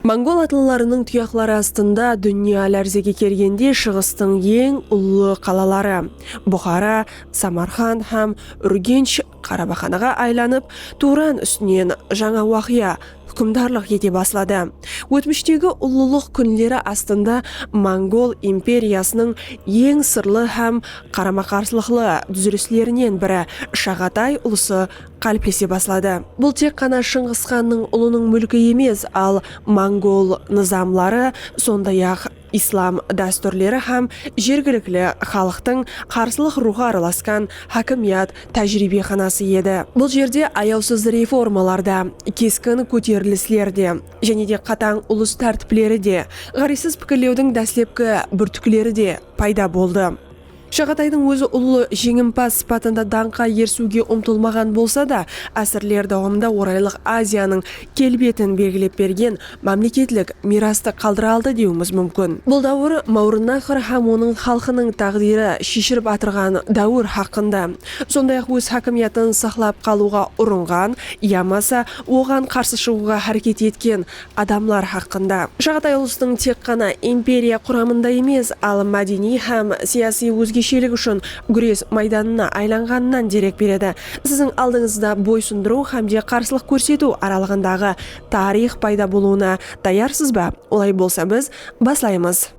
Mongol atlılarınıń tuyaqları astında dúnya lárzege kelgende Shıǵıstıń eń ullı qalaları, Buxara, Samarqand hám Úrgensh qarabaxanaǵa aylanıp, Tuwran ústinen jańa waqıya, húkimdarlıq ete basladı. Ótmishtegi ullılıq kúnleri astında mongol imperiyasınıń eń sırlı hám qarama-qarsılıqlı dúzilislerinen biri Shaǵatay ulısı qáliplese basladı. Bul tek ǵana Shıńǵıs xannıń ulınıń múlki emes, al mongol nızamları, sonday-aq, islam dástúrleri hám jergilikli xalıqtıń qarsılıq ruwxı aralaskan hákimiyat tájiriybexanası edi. Bul jerde ayawsız reformalar da, keskin kóterilisler de, jáne de qatań ulıs tártipleri de, ǵárezsiz pikirlewdiń dáslepki búrtikleri de payda boldı. Shaǵataydıń ózi ullı jeńimpaz sıpatında dańqqa erisiwge umtılmaǵan bolsa da, ásirler dawamında Oraylıq Aziyanıń kelbetin belgilep bergen mámleketlik miyrastı qaldıra aldı dewimiz múmkin. Bul dáwir Máwrınnaxr hám onıń xalqınıń táǵdiri sheshilip atırǵan dáwir haqqında, sonday-aq óz hákimiyatın saqlap qalıwǵa urınǵan yamasa oǵan qarsı shıǵıwǵa háreket etken, adamlar haqqında. Shaǵatay ulıstıń tek ǵana imperiya quramında emes, al mádeniy hám siyasiy ózgeshelik ushın gúres maydanına aylanǵanınan derek beredi. Siziń aldıńızda boysındırıw hám de qarsılıq kórsetiw aralıǵındaǵı tariyx payda bolıwına tayarsız ba? Olay bolsa biz baslaymız.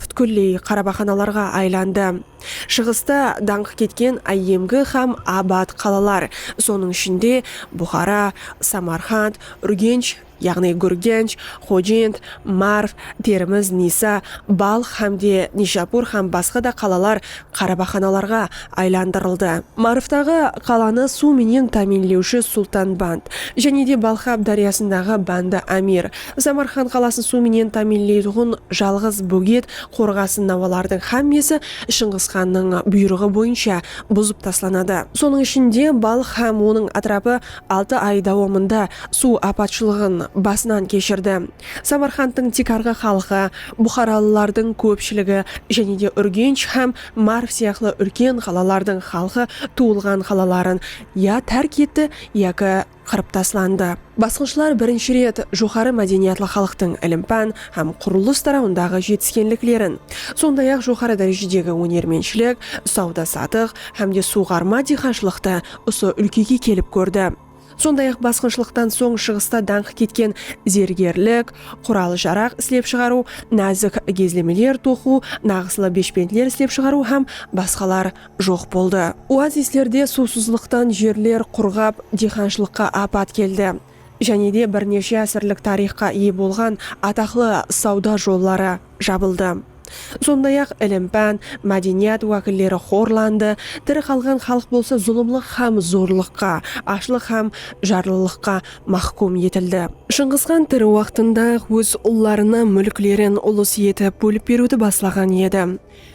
pútkilley qarabaxanalarǵa aylandı. Shıǵısta dańqı ketken áyyemgi hám abat qalalar, sonıń ishinde, Buxara, Samarqand, Úrgensh, yaǵnıy Gúrgench, Xojent, Marv, Termiz, Nisa, Balx hám de Nishapur hám basqa da qalalar qarabaxanalarǵa aylandırıldı. Marvtaǵı qalanı suw menen támiynlewshi Sultanband, jáne de Balxab dáryasındaǵı Bandi Amir, Samarqand qalasın suw menen támiyinleytuǵın jalǵız bóget qorǵasın nawalardıń xámmesi Shıńǵısxannıń buyrıǵı boyınsha buzıp taslanadı. Sonıń ishinde, Balx hám onıń átirapı altı ay dawamında suw apatshılıǵın basınan keshirdi. Samarqandtıń tiykarǵı xalqı, buxaralılardıń kópshiligi jáne de Úrgensh hám Marv sıyaqlı úlken qalalardıń xalqı tuwılǵan qalaların ya tárk etti, yaki qırıp taslandı. Basqınshılar birinshi ret joqarı mádeniyatlı xalıqtıń ilim-pán hám qurılıs tarawındaǵı jetiskenliklerin, sonday-aq joqarı dárejedegi ónermentshilik, sawda-satıq hám de suwǵarma diyqanshılıqtı usı úlkege kelip kórdi. Sonday-aq basqınshılıqtan soń Shıǵısta dańqı ketken zergerlik, qural-jaraq islep shıǵarıw, názik gezlemeler toqıw, naǵıslı beshpentler islep shıǵarıw hám basqalar joq boldı. Oazislerde suwsızlıqtan jerler qurǵap, diyxanshılıqqa apat keldi. Jáne de bir neshe ásirlik tariyxqa iye bolǵan ataqlı sawda jolları jabıldı. Sonday-aq, ilim-pán, mádeniyat wákilleri xorlandı, tiri qalǵan xalıq bolsa zulımlıq hám zorlıqqa, ashlıq hám jarlılıqqa máxkum etildi. Shıńǵısxan tiri waqtında-aq óz ullarına múlklerin ulıs etip bólip beriwdi baslaǵan edi.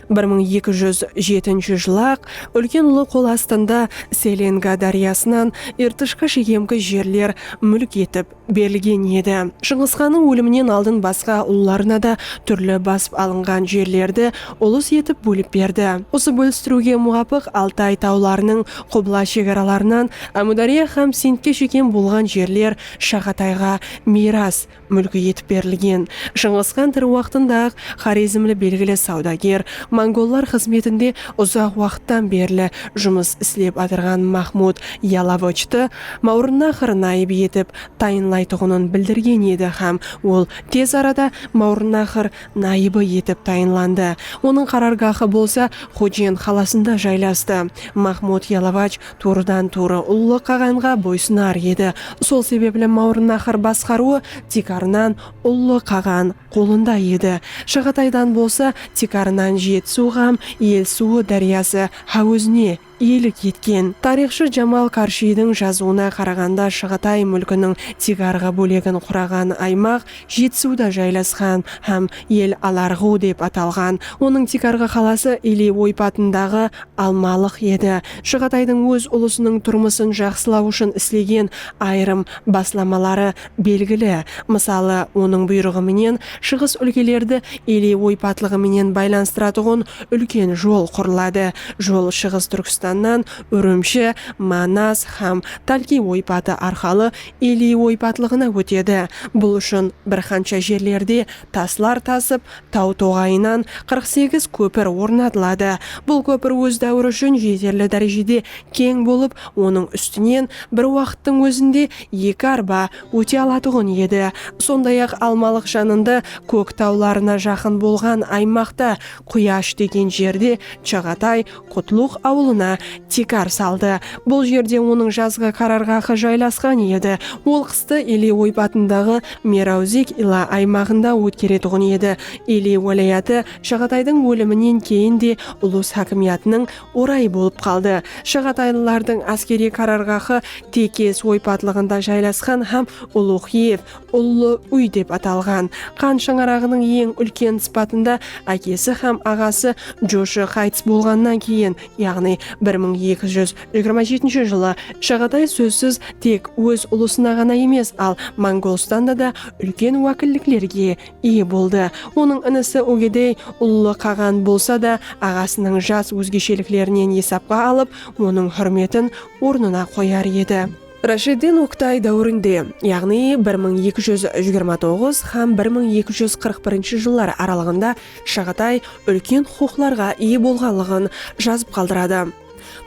Bir mıń eki júz jetinshi jılı-aq úlken ulı qol astında Selenga dáryasınan Irtishqa shekemgi jerler múlk etip berilgen edi. Shıńǵısxannıń óliminen aldın basqa ullarına da túrli basıp alınǵan jerlerdi ulыс etip bólip berdi. Usı bólistiriwge muwapıq Altay tawlarınıń qubla shegaralarınan Ámúdárya hám Sindke shekem bolǵan jerler Shaǵatayǵa miyras, múlki etip berilgen. Shıńǵıs xan tiri waqtında-aq xorezmli belgili sawdager, mongollar xızmetinde uzaq waqıttan berli jumıs islep atırǵan Maxmud Yalovıchtı Mawrınnaxr nayıp etip tayınlaytuǵının bildirgen edi hám ol tez arada Mawrınnaxr nayıbı etip tayınlandı. Onıń qarargahı bolsa Xojen qalasında jaylastı. Maxmud Yalovıch tuwrıdan-tuwrı Ullı qaǵanǵa boysınar edi. Sol sebepli Mawrınnahır basqarıwı tiykarınan Ullı qaǵan qolında edi. Shaǵataydan bolsa tiykarınan Jetisuw ǵam El suwı dáryası ha ózine iyelik etken. Tariyxshı Jamal Qarshiydiń jazıwına qaraǵanda Shaǵatay múlkiniń tiykarǵı bólegin quraǵan aymaq Jetisuda jaylasqan hám El Alarǵu dep atalǵan. Onıń tiykarǵı qalası Iliy oypatındaǵı Almalıq edi. Shıǵataydıń óz ulısınıń turmısın jaqsılaw ushın islegen ayırım baslamaları belgili. Mısalı, onıń buyrıǵı menen shıǵıs úlkelerdi Iliy oypatlıǵı menen baylanıstıratuǵın úlken jol qurıladı. Jol Shıǵıs Túrkstannan Úrimshi, Manas hám Talkiy oypatı arqalı Eli oypatlıǵına ótedi. Bul ushın bir qansha jerlerde taslar tasıp, taw toǵayınan qırq segiz kópir ornatıladı. Bul kópir óz dáwiri ushın jeterli dárejede keń bolıp, onıń ústinen bir waqıttıń ózinde eki arba óte alatuǵın edi. Sonday-aq, Almalıq janında kók tawlarına jaqın bolǵan aymaqta Quyash degen jerde Chaǵatay Qutluıq awılına tiykar saldı. Bul jerde onıń jazǵı qararǵahı jaylasqan edi. Ol qıstı Ili oypatındaǵı Merawzik ila aymaǵında ótkeretuǵın edi. Ili wálayatı Shaǵataydıń óliminen keyin de ulus hákimiyatınıń orayı bolıp qaldı. Shaǵataylılardıń áskeriy qararǵahı Tekes oypatlıǵında jaylasqan hám Uluxiev, Ullı úy dep atalǵan Qan shańaraǵınıń eń úlken sıpatında ákesi hám aǵası joshı qaytıs bolǵannan keyin, yaǵnıy bir mıń eki júz jigirma jetinshi jılı Shaǵatay sózsiz tek óz ulısına ǵana emes, al Mongolstanda da úlken wákilliklerge iye boldı. Onıń inisi Ugedey ullı qaǵan bolsa da, aǵasınıń jas ózgesheliklerinen esapqa alıp, onıń húrmetin ornına qoyar edi. Rashiddin Oktay dáwirinde, yaǵnıy bir mıń eki júz jigirma toǵız hám bir mıń eki júz qırq birinshi jıllar aralıǵında Shaǵatay úlken huqıqlarǵa iye bolǵanlıǵın jazıp qaldıradı.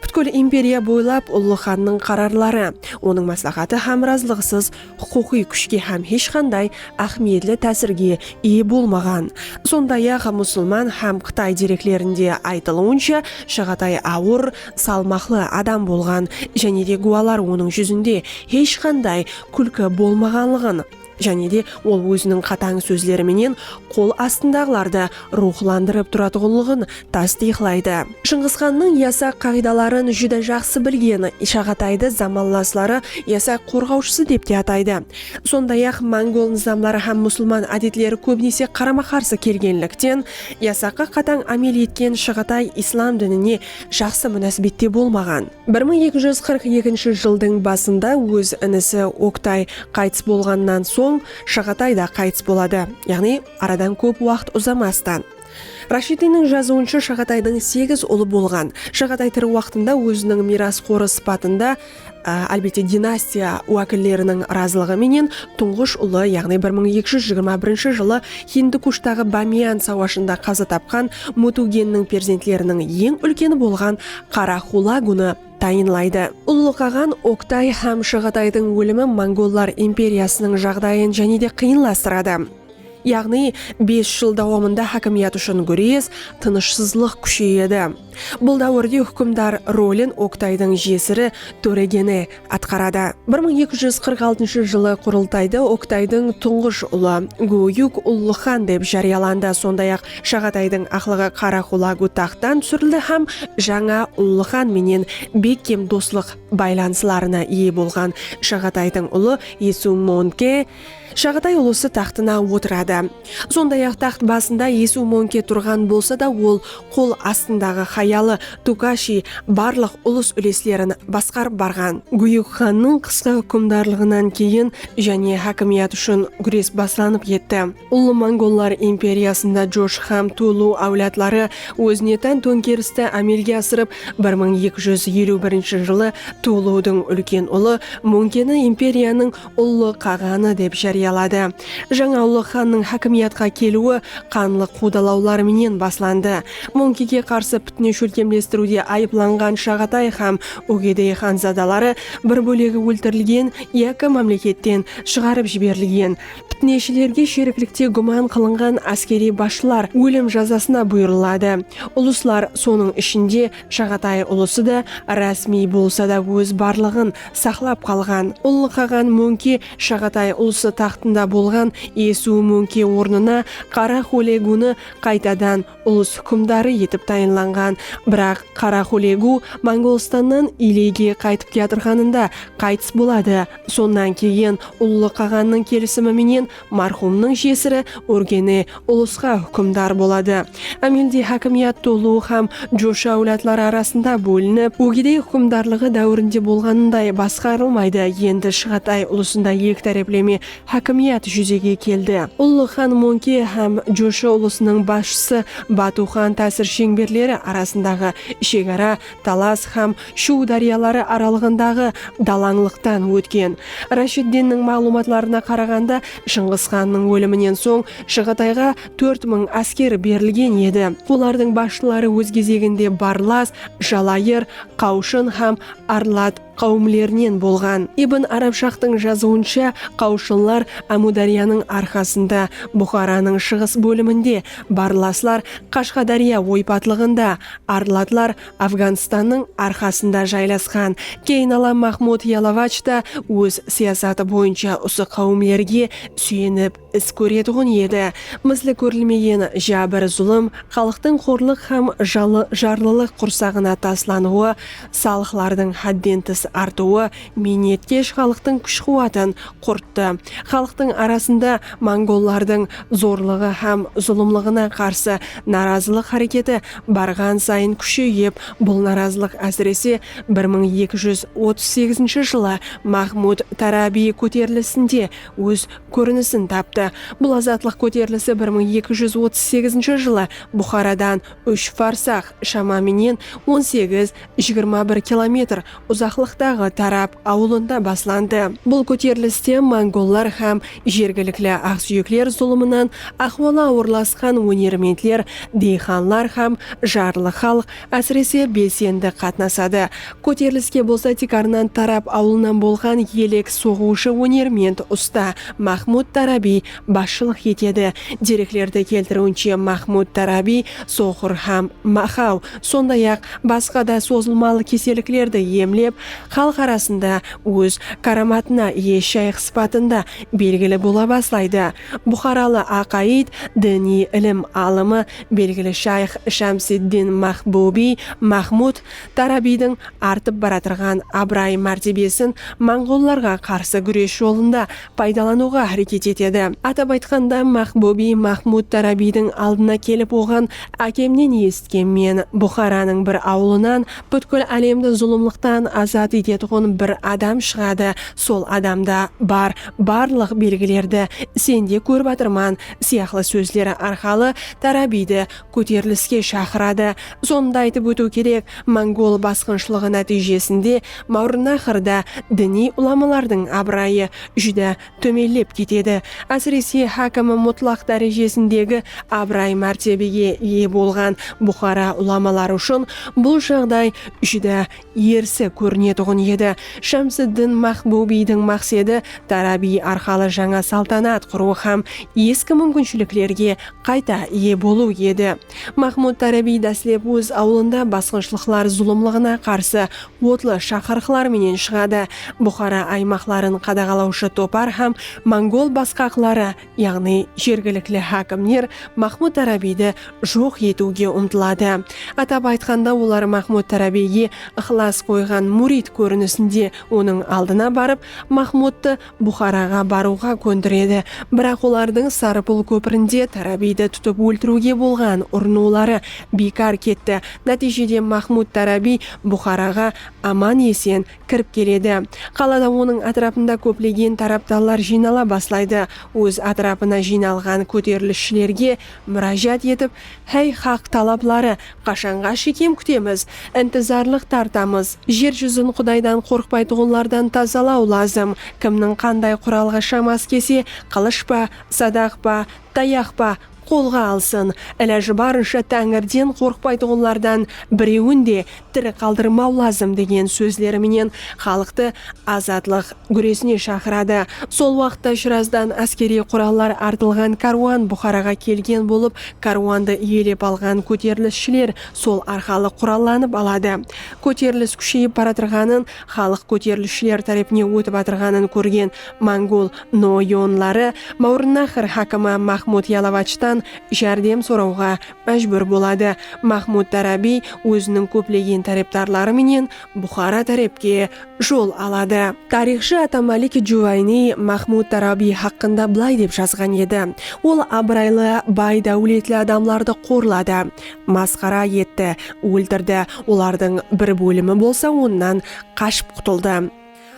Pútkil imperiya boylap ullı xannıń qararları, onıń másláxatı hám razılıǵısız huqıqıy kúshke hám hesh qanday áhmiyetli tásirge iye bolmaǵan. Sonday-aq, musılman hám qıtay dereklerinde aytılıwınsha, Shaǵatay awır, salmaqlı adam bolǵan jáne de gúwalar onıń júzinde hesh qanday kúlki bolmaǵanlıǵın jáne de ol óziniń qatań sózleri menen qol astındaǵılardı ruwxlandırıp turatuǵınlıǵın tastıyıqlaydı. Shıńǵısxannıń yasaq qaǵıydaların júdá jaqsı bilgen Ishaǵataydı zamanlasları yasaq qorǵawshısı dep te ataydı. Sonday-aq, mongol nızamları hám musılman ádetleri kóbinese qarama-qarsı kelgenlikten, yasaqqa qatań ámel etken Shaǵatay islam dinine jaqsı múnásibette bolmaǵan. Bir mıń eki júz qırq ekinshi jıldıń basında óz inisi Oktay qaytıs bolǵannan soń Shaǵatay da qaytıs boladı, yaǵnıy aradan kóp waqıt uzamastan. Rashidiydiń jazıwınsha Shaǵataydıń segiz ulı bolǵan. Shaǵatay tiri waqtında óziniń miyrasqorı sıpatında. álbette dinastiya wákilleriniń razılıǵı menen tuńǵısh ulı yaǵnıy bir mıń eki júz jigirma birinshi jılı Hindi Kushtaǵı Bamiyan sawashında qaza tapqan Mutugenniń perzentleriniń eń úlkeni bolǵan Qara Xulagunı tayınlaydı. Ullıqaǵan Oktay hám Shaǵataydıń ólimi mongollar imperiyasınıń jaǵdayın jáne de qıyınlastıradı. Yaǵnıy bes jıl dawamında hákimiyat ushın gúres, tınıshsızlıq kúsheyedi. Bul dáwirde húkimdar rolin Oktaydıń jesiri Tóregeni atqaradı. Bir mıń eki júz qırq altınshı jılı Qurıltayda Oktaydıń tuńǵısh ulı Góyúk ullı xan dep járiyalandı, sonday-aq Shaǵataydıń aqlıǵı Qaraqulagu taxttan túsirildi hám jańa ullı xan menen bekkem doslıq baylanıslarına iye bolǵan Shaǵataydıń ulı Esumonke Shaǵatay ulısı taxtına otıradı. Sonday-aq, taxt basında Esu Monke turǵan bolsa da, ol qol astındaǵı hayalı Tukashi barlıq ulıs-úleslerin basqarıp barǵan. Búyik xannıń qısqa húkimdarlıǵınan keyin jáne hákimiyat ushın gúres baslanıp ketti. Ullı mongollar imperiyasında Josh hám Tulu áwladları ózine tán tónkeristi ámelge asırıp, bir mıń eki júz eliw birinshi jılı Tuludıń úlken ulı Monkeni imperiyanıń Ullı qaǵanı dep járiyaladı. Jańa ullı xannıń hákimiyatqa keliwi qanlı quwdalawlar menen baslandı. Móńkege qarsı pitne shólkemlestiriwde ayıplanǵan Shaǵatay hám Úgedey xanzadaları bir bólegi óltirilgen yaki mámleketten shıǵarıp jiberilgen. Pitneshilerge sheriklikte gúman qılınǵan áskeriy basshılar ólim jazasına buyırıladı. Ulıslar, sonıń ishinde, Shaǵatay ulısı da rásmiy bolsa da óz barlıǵın saqlap qalǵan. Ullıqaǵan Móńke Shaǵatay ulısı taxtında bolǵan Esuw Móńke ornına Qara Xólegu-nı qaytadan ulıs húkimdarı etip tayınlanǵan. Biraq Qara Xólegu Monǵolstannan Iliyge qaytıp kiyatırǵanında qaytıs boladı. Sonnan keyin Ullı qaǵannıń kelisimi menen Marhumnıń jesiri Úrgeni ulısqa húkimdar boladı. Ámelde hákimiyat Tuluu hám Joshi áwladları arasında bólinip, Úgedey húkimdarlıǵı dáwirinde bolǵanınday basqarılmaydı, endi Shıǵatay ulısında eki tárepleme hákimiyat júzege keldi. Ullı xan Monke hám Joshi ulısınıń basshısı Batu xan tásir sheńberleri arasındaǵı shegara Talas hám Shuw dáryaları aralıǵındaǵı dalańlıqtan ótken. Rashiddinniń maǵlıwmatlarına qaraǵanda, Shıńǵıs xannıń óliminen soń Shıǵatayǵa tórt mıń ásker berilgen edi. Olardıń basshıları óz gezeginde Barlas, Jalayır, Qawshın hám Arlat. qáwimlerinen bolǵan. Ibn Arabshaqtıń jazıwınsha, qáwshınlar Ámúdáryanıń arqasında, Buxaranıń shıǵıs bóliminde, barlaslar Qashqadárya oypatlıǵında, arlatlar Afganstannıń arqasında jaylasqan. Keynala Mahmud Yalavach ta óz siyasatı boyınsha usı qáwimlerge súyenip. is kóretuǵın edi. Misli kórilmegen jábir-zulım, xalıqtıń xorlıq hám jarlılıq qursaǵına taslanıwı, salıqlardıń hádden tıs artıwı miynetkesh xalıqtıń kúsh-quwatın qurttı. Xalıqtıń arasında mongollardıń zorlıǵı hám zulımlıǵına qarsı narazılıq háreketi barǵan sayın kúsheyip, bul narazılıq ásirese bir mıń eki júz otız segizinshi jılı Mahmud Tarabiy kóterilisinde óz kórinisin taptı. Bul azatlıq kóterilisi bir mıń eki júz otız segizinshi jılı Buxaradan úsh farsax, shama menen on segiz, jigirma bir kilometr, uzaqlıqtaǵı Tarap awılında baslandı. Bul kóteriliste mongollar hám jergilikli aqsúyekler zulımınan ahwalı awırlasqan ónermentler, deyxanlar hám jarlı xalıq, Ásirese, belsendi qatnasadı. Kóteriliske bolsa tiykarınan Tarab awılınan bolǵan elek soǵıwshı ónerment usta Maxmud Tarabiy basshılıq etedi. Dereklerdi keltiriwinshe, Maxmud Tarabiy soqır hám maxaw, sonday-aq, basqa da sozılmalı keselliklerdi emlep, xalıq arasında óz káramatına iye shayx sıpatında belgili bola baslaydı. Buxaralı aqayıt, diniy ilim alımı, Belgili shayx Shamsiddin Maxbubiy Maxmud Tarabiydiń artıp baratırǵan abıray-mártebesin monǵollarǵa qarsı gúres jolında paydalanıwǵa háreket etedi. Atap aytqanda, Maxbubiy Maxmud Tarabiydiń aldına kelip oǵan, Ákemnen esitken men, Buxaranıń bir awılınan pútkil álemdi zulımlıqtan azat etetuǵın bir adam shıǵadı, sol adamda bar barlıq belgilerdi sende kórip atırman, sıyaqlı sózler arqalı Tarabiydi kóteriliske shaqıradı. Sonı da aytıp ótiw kerek, mongol basqınshılıǵı nátiyjesinde Mawrınnaxrda diniy ulamalardıń abırayı júdá tómenlep ketedi. Ásirese, hákimi mutlaq dárejesindegi abıray-mártebege iye bolǵan Buxara ulamaları ushın bul jaǵday júdá erisi kórinetuǵın edi. Shamsiddin Maxbubiydiń maqsedi Tarabiy arqalı jańa saltanat qurıw hám eski múmkinshiliklerge qayta iye bolıw edi. Maxmud Tarabiy dáslep óz awılında basqınshılıqlar zulımlıǵına qarsı otlı shaqırıqlar menen shıǵadı. Buxara aymaqların qadaǵalawshı topar hám mongol basqaqları yaǵnıy jergilikli hákimler Maxmud Tarabiydi joq etiwge umtıladı. Atap aytqanda, olar Maxmud Tarabiyge ıqlas qoyǵan múrid kórinisinde onıń aldına barıp, Maxmudtı Buxaraǵa barıwǵa kóndiredi. Biraq olardıń Sarıpul kópirinde Tarabiydi tutıp óltiriwge bolǵan urınıwları biykar ketti. Nátiyjede Maxmud Tarabiy Buxaraǵa aman-esen kirip keledi. Qalada onıń átirapında kóplegen tarapdarlar jıynala baslaydı. Óz átirapına jıynalǵan kóterilisshilerge múrájat etip, Háy, xaq talapları, qashanǵa shekem kútemiz? Intizarlıq tartamız. Jer júzin Qudaydan qorqpaytuǵınlardan tazalaw lazım. Kimniń qanday quralǵa shamas kelse, qılısh pa, sadaq pa, tayaq pa, qolǵa alsın, ilajı barınsha Táńirden qorqpaytuǵınlardan birewin de tiri qaldırmaw lazım degen sózleri menen xalıqtı azatlıq gúresine shaqıradı. Sol waqıtta Shirazdan áskeriy qurallar artılǵan kárwan Buxaraǵa kelgen bolıp, kárwandı iyelep alǵan kóterilisshıler sol arqalı qurallanıp aladı. Kóterilis kúsheyip baratırǵanın Xalıq kóterilishler tárepine ótip atırǵanın kórgen mongol no yonları Mawrınnaxr hákimi Maxmud Yalavachtan járdem sorawǵa májbúr boladı. Maxmud Darabi óziniń kóplegen tárepdarları menen Buxara tárepke jol aladı. Tariyxshı Atamalik Juvayniy Maxmud Darabi haqqında bılay dep jazǵan edi, Ol abıraylı, bay dáwletli adamlardı qorladı. Masqara etti, óltirdi, olardıń bir bólimi bolsa onnan qashıp qutıldı.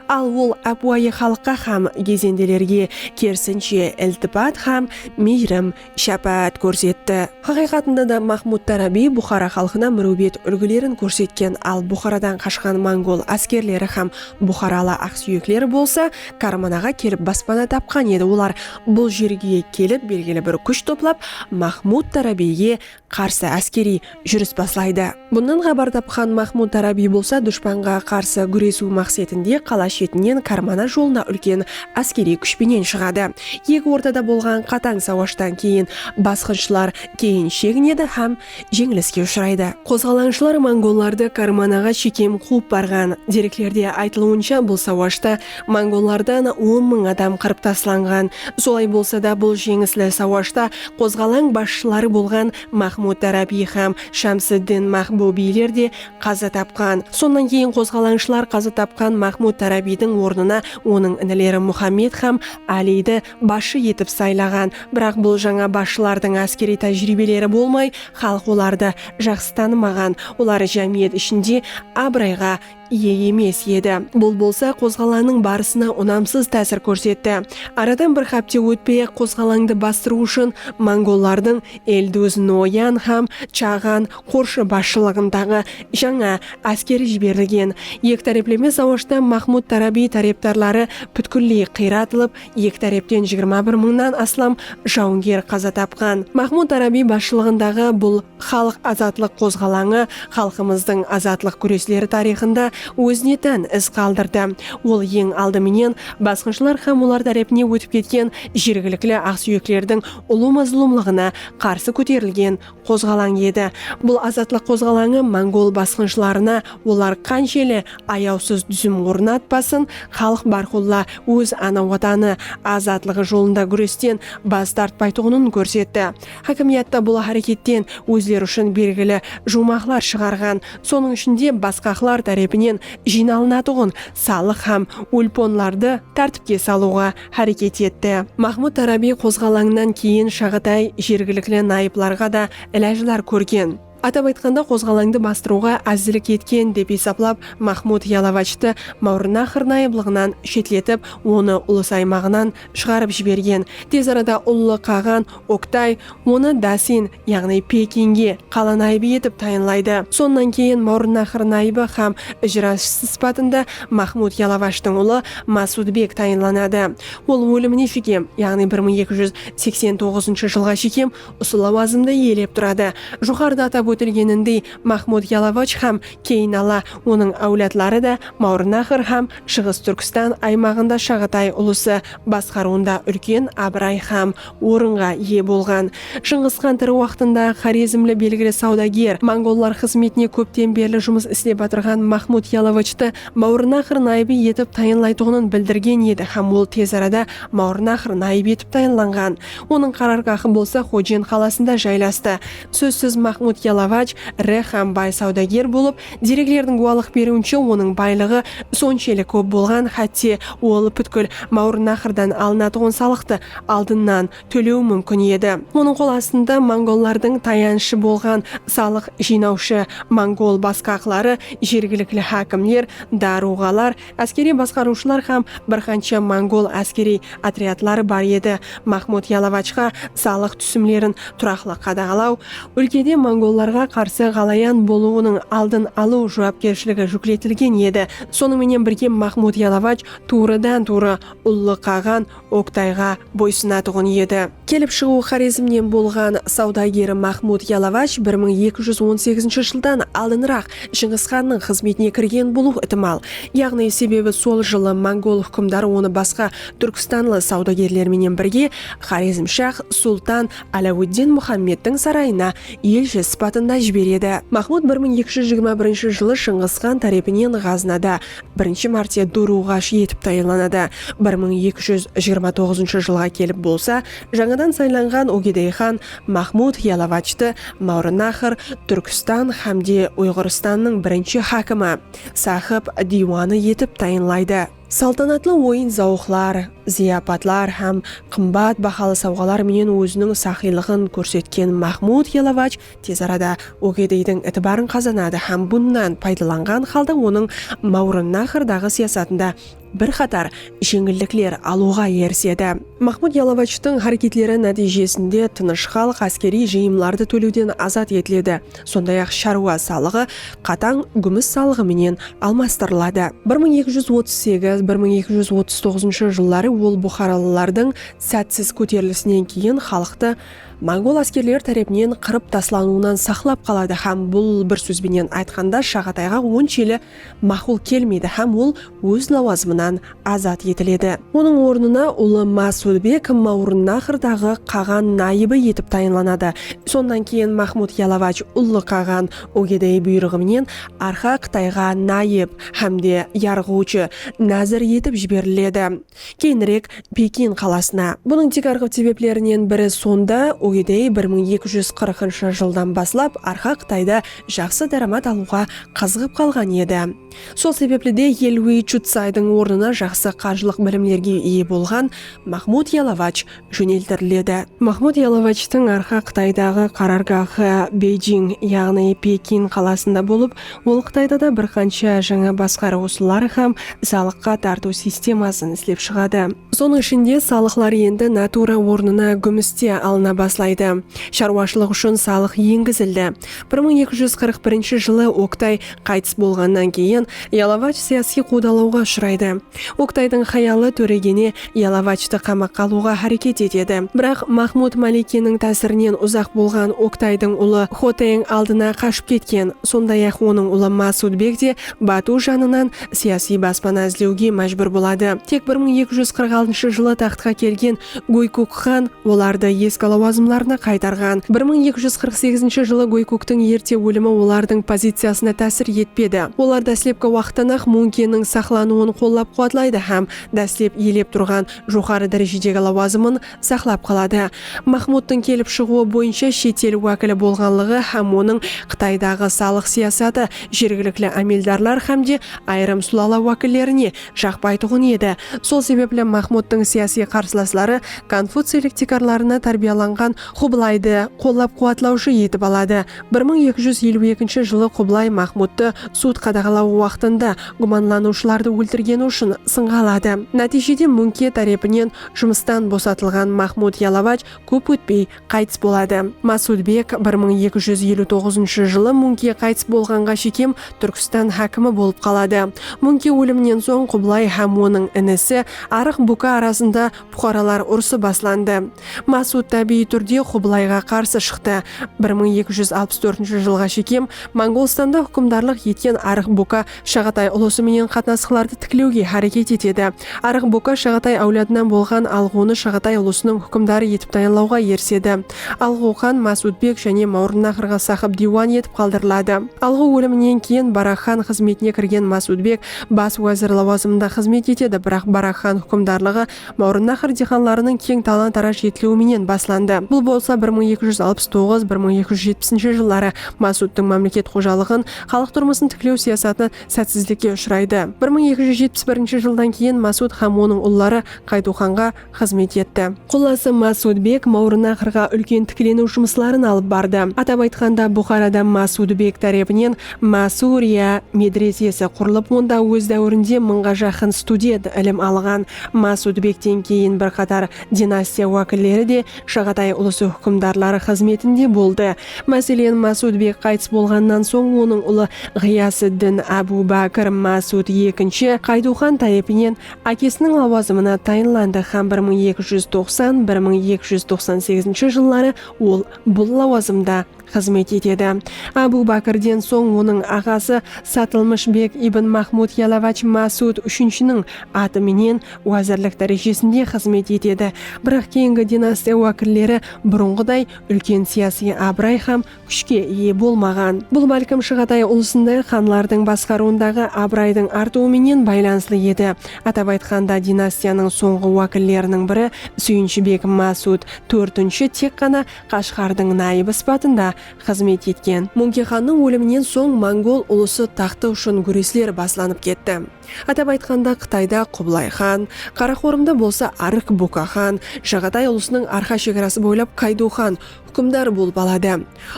Al ol ápiwayı xalıqqa hám gezendelerge kerisinshe iltipat hám miyrim, shápáát kórsetti. Haqıyqatında da Mahmud Tárábiy Buxara xalqına múriwbet úlgilerin kórsetken, al Buxaradan qashqan mongol áskerleri hám buxaralı aqsúyekler bolsa Karmanaǵa kelip baspana tapqan edi, olar bul jerge kelip belgili bir kúsh toplap Mahmud Tárábiyge qarsı áskeriy júris baslaydı. Bunnan xabar tapqan Maxmud Tarabiy bolsa dushpanǵa qarsı gúresiw maqsetinde qala shetinen Karmana jolına úlken áskeriy kúsh penen shıǵadı. Eki ortada bolǵan qatań sawashtan keyin basqınshılar keyin sheginedi hám jeńiliske ushıraydı. Qozǵalanıshlar mongollardı Karmanaǵa shekem quwıp barǵan. Dereklerde aytılıwınsha bul sawashta Mongollardan on mıń adam qırıp taslanǵan. Solay bolsa da, bul jeńisli sawashta qozǵalań basshıları bolǵan Maxmud Darabiy hám Shamsiddin Maxbu biyler de qaza tapqan. Sonnan keyin qozǵalańshılar qaza tapqan Maxmud Darabiydiń ornına onıń inileri Muxammed hám Áliydi basshı etip saylaǵan. Biraq bul jańa basshılardıń áskeriy tájiriybeleri bolmay, xalıq olardı jaqsı tanımaǵan, olar jámiyet ishinde abırayǵa iye emes edi. Bul bolsa qozǵalanıń barısına unamsız tásir kórsetti. Aradan bir hápte ótpey-aq qozǵalańdı bastırıw ushın mongollardıń Elduz, Noyan hám Chaǵan qorshı basshılıǵındaǵı jańa áskeri jiberilgen. Eki tárepleme sawashta Maxmud Tarabiy tárepdarları pútkilley qıyratılıp, eki tárepten jigirma bir mıńnan aslam jawınger qaza tapqan. Maxmud Tarabiy basshılıǵındaǵı bul. Xalıq azatlıq qozǵalańı xalqımızdıń azatlıq gúresleri tariyxında ózine tán iz qaldırdı. Ol eń aldı menen basqınshılar hám olar tárepine ótip ketken jergilikli aqsúyeklerdiń ulı mazlumlıǵına qarsı kóterilgen qozǵalań edi. Bul azatlıq qozǵalańı mongol basqınshılarına olar qansheli ayawsız dúzim ornatpasın, xalıq bárqulla óz ana watanı azatlıǵı jolında gúresten bas tartpaytuǵının kórsetti. Hákimiyatta bul háreketten ózleri ushın belgili juwmaqlar shıǵarǵan, sonıń ishinde basqaqlar tárepinen jıynalınatuǵın salıq hám ulponlardı tártipke salıwǵa háreket etti. Mahmud Tarabiy qozǵalańınan keyin Shaǵatay jergilikli nayıplarǵa da ilajlar kórgen. Atap aytqanda, qozǵalańdı bastırıwǵa ázirlik etken dep esaplap, Maxmud Yalovactı Mawrınnaxr nayıblıǵınan shetletip, onı ulus aymaǵınan shıǵarıp jibergen. Tez arada ullı qaǵan Oktay onı Dasin, yaǵnıy Pekinge qala nayıbı etip tayınlaydı. Sonnan keyin Mawrınnaxr nayıbı hám ijrasshısı sıpatında Maxmud Yalovactıń ulı Masudbek tayınlanadı. Ol ólimine shekem, yaǵnıy bir mıń eki júz seksen toǵızınshı jılǵa shekem Usı lawazımdı iyelep turadı. Joqarıda atap ótilgenindey, Maxmud Yalovach hám keyin ala onıń áwladları da Mawrınaxr hám Shıǵıs Túrkstan aymaǵında Shaǵatay ulısı basqarıwında úlken abıray hám orınǵa iye bolǵan. Shıńǵıs xan tiri waqtında xorezmli belgili sawdager, mongollar xızmetine kópten berli jumıs islep atırǵan Maxmud Yalovachtı Mawrınaxr nayıbı etip tayınlaytuǵının bildirgen edi hám ol tez arada Mawrınaxr nayıbı etip tayınlanǵan. Onıń qarargahı bolsa Xojen qalasında jaylastı. Sózsiz Maxmud Yalavaj iri hám bay sawdager bolıp, dereklerdiń gúwalıq beriwinshe onıń baylıǵı sonshelli kóp bolǵan hátte ol pútkil Mawrınnahırdan alınatuǵın salıqtı aldınnan tólewi múmkin edi. Onıń qol astında mongollardıń tayanıshı bolǵan salıq jıynawshı mongol basqaqları, jergilikli hákimler, daruǵalar, Áskeriy basqarıwshılar hám bir qansha mongol áskeriy otryadları bar edi. Maxmud Yalovachqa salıq túsimlerin turaqlı qadaǵalaw, úlkede mongollarǵa qarsı ǵalayan bolıwınıń aldın alıw juwapkershiligi júkletilgen edi. Sonıń menen birge Maxmud Yalovach tuwrıdan-tuwrı Ullı Qaǵan Oktayǵa boysınatuǵın edi. Kelip shıǵıwı Xorezmnen bolǵan sawdageri Maxmud Yalavash bir mıń eki júz on segizinshi jıldan aldınıraq Shıńǵısxannıń xızmetine kirgen bolıwı itimal. Yaǵnıy sebebi sol jılı mongol húkimdarı onı basqa túrkstanlı sawdagerler menen birge Xorezmshax sultan Aláwıddin Muxammedtiń sarayına elshi sıpatında jiberedi. Maxmud bir mıń eki júz jigirma birinshi jılı Shıńǵısxan tárepinen Ǵaznada birinshi márte dúrúǵash etip tayınlanadı. Bir mıń eki júz jigirma toǵızınshı jılǵa kelip bolsa, jańadan saylanǵan Ogedey xan Maxmud Yalovactı Máwrınnahır, Túrkstan xámde Uyǵırstannıń birinshi hákimi, sahib diywanı etip tayınlaydı. Saltanatlı oyın-zawıqlar, zıyapatlar hám qımbat bahalı sawǵalar menen óziniń saxıylıǵın kórsetken Maxmud Yalovach Tez arada Ogedeydiń itibarın qazanadı hám bunnan paydalanǵan halda onıń Mawrannahrdagı siyasatında bir qatar jeńillikler alıwǵa erisedi. Mahmud Yalovachtıń háreketleri nátiyjesinde tınısh xalıq áskeriy jıyımlardı tólewden azat etiledi, sonday-aq sharwa salıǵı qatań gúmis salıǵı menen almastırıladı. Bir mıń eki júz otız segiz, bir mıń eki júz otız toǵızınshı jılları ol buxaralılardıń sátsiz kóterilisinen keyin xalıqtı, mongol áskerleri tárepinen qırıp taslanıwınan saqlap qaladı hám bul bir sóz benen aytqanda Shaǵatayǵa onsheli maqul kelmeydi hám ol óz lawazımınan azat etiledi. Onıń ornına ulı Masulbek Mawrınnahırdaǵı qaǵan nayıbı etip tayınlanadı. Sonnan keyin Mahmud Yalavaj ullı qaǵan Ogedey buyrıǵı menen Arxa Qıtayǵa nayıp hám de yarǵıwshı, nazir, etip jiberiledi. Keyinirek Pekin qalasına. Bunıń tiykarǵı sebeplerinen biri sonda, Ugedey bir mıń eki júz qırqınshı jıldan baslap arqa Qıtayda jaqsı dáramat alıwǵa qazıǵıp qalǵan edi. Sol sebepli de Elwei Chutsaydıń ornına jaqsı qarjılıq bilimlerge iye bolǵan Maxmud Yalavach jóneltiriledi. Mahmud Yalovachtıń arqa Qıtaydaǵı qarargaxı Beyjing, yaǵnıy Pekin qalasında bolıp, ol Qıtayda da bir qansha jańa basqarıw usılları hám salıqqa tartıw sistemasın islep shıǵadı. Sonıń ishinde, salıqlar endi natura ornına gúmiste alına baslaydı. Sharwashılıq ushın salıq engizildi. Bir mıń eki júz qırq birinshi jılı Oktay qaytıs bolǵannan keyin, Yalovach siyasiy quwdalawǵa ushıraydı. Oktaydıń xayalı Tóregene Yalovactı qamaqqa alıwǵa háreket etedi. Biraq Maxmud Malikeniń tásirinen uzaq bolǵan Oktaydıń ulı Xoteng aldına qashıp ketken. Sonday-aq, onıń ulı Masudbek te Batu janınan siyasiy baspana izlewge májbúr boladı. Tek bir mıń eki júz qırq altıncı jılı taxtqa kelgen Góykuk xan olardı eski lawazımlarına qaytarǵan. Bir mıń eki júz qırq segizinshi jılı Góykuktiń erte ólimi olardıń poziciyasına tásir etpedi. Olar dáslepki waqıttan-aq Munkenniń saqlanıwın qollap-quwatlaydı hám dáslep iyelep turǵan joqarı dárejedegi lawazımın saqlap qaladı. Maxmudtıń kelip shıǵıwı boyınsha shet el wákili bolǵanlıǵı hám onıń Qıtaydaǵı salıq siyasatı jergilikli ámeldarlar hám de ayırım sulala wákillerine Jaqpaytuǵın edi. Sol sebepli Maxmudtıń siyasiy qarsılasları konfuciylik tiykarlarına tárbiyalanǵan Qublaydı qollap-quwatlawshı etip aladı. Bir mıń eki júz eliw ekinshi jılı Qublay Maxmudtı sud qadaǵalawı waqtında gúmanlanıwshılardı óltirgeni ushın sınǵa aladı. Nátiyjede Múńke tárepinen jumıstan bosatılǵan Maxmud Yalavaj kóp ótpey Qaytıs boladı. Masudbek bir mıń eki júz eliw toǵızınshı jılı Múńke qaytıs bolǵanǵa shekem Túrkstan hákimi bolıp qaladı. Múńke óliminen soń Qublay hám onıń inisi Arıq Búka arasında puqaralar urısı baslandı. Masud tábiyiy túrde Qublayǵa qarsı shıqtı. Bir mıń eki júz alpıs tórtinshi jılǵa shekem Mongolstanda húkimdarlıq etken Arıq Búka Shaǵatay ulısı menen qatnasıqlardı tiklewge háreket etedi. Arıq Boka Shaǵatay áwladınan bolǵan Alǵuwını Shaǵatay ulısınıń húkimdarı etip tayanlawǵa erisedi. Alǵuw xan Más Útbek jáne Mawrınnaxrǵa saqıp diywan etip qaldıriladı. Alǵuw óliminen keyin Barak xan xızmetine kirgen Más Útbek bas wázir lawazımında xızmet etedi, biraq Barak xan húkimdarlıǵı Mawrınnahır diyqanlarınıń keń talan-taraj etiliwi menen baslandı. Bul bolsa bir mıń eki júz alpıs toǵız, bir mıń eki júz jetpisinshi jılları Masudtıń mámleket xojalıǵın, xalıq turmısın tiklew siyasatı sátsizlikke ushıraydı. Bir mıń eki júz jetpis birinshi jıldan keyin Masud hám onıń ulları Qaytuw xanǵa xızmet etti. Qullası Masud bek Mawrınnahırǵa úlken tikleniw jumısların alıp bardı. Atap aytqanda, Buxarada Masud bek tárepinen Masúriya medresesi qurılıp, onda óz dáwirinde mıńǵa jaqın student ilim alǵan. Masúdbekten keyin bir qatar dinastiya wákilleri de Shaǵatay ulısı húkimdarları xızmetinde boldı. Máselen, Masúdbek qaytıs bolǵannan soń onıń ulı Ǵıyasıddin Ábu Bákir Masúd ekinshi Qayduxan tárepinnen ákesiniń lawazımına tayınlandı hám bir mıń eki júz toqsan, bir mıń eki júz toqsan segizinshi jılları ol bul lawazımda xızmet etedi. Ábu Bákirden soń onıń aǵası Satılmısh beg ibn Mahmud Yalavach Másud úshinshiniń atı menen wázirlik dárejesinde xızmet etedi, biraq keyingi dinastiya wákilleri burınǵıday úlken siyasiy abıray hám kúshke iye bolmaǵan. Bul bálkim Shıǵatay ulısınday xanlardıń basqarıwındaǵı abıraydıń artıwı menen baylanıslı edi, atap aytqanda, dinastiyanıń sońǵı wákilleriniń biri Súyinshi beg Másud tórtinshi tek ǵana Qashqardıń nayıbı sıpatında xızmet etken. Muńke xannıń óliminen soń mongol ulısı taxtı ushın gúresler baslanıp ketti. Atap aytqanda Qıtayda Qubılay xan, Qaraqorımda bolsa Arıq Buka xan, Jaǵatay ulısınıń arqa shegarası boylap Kaydu xan húkimdar bolıp aladı.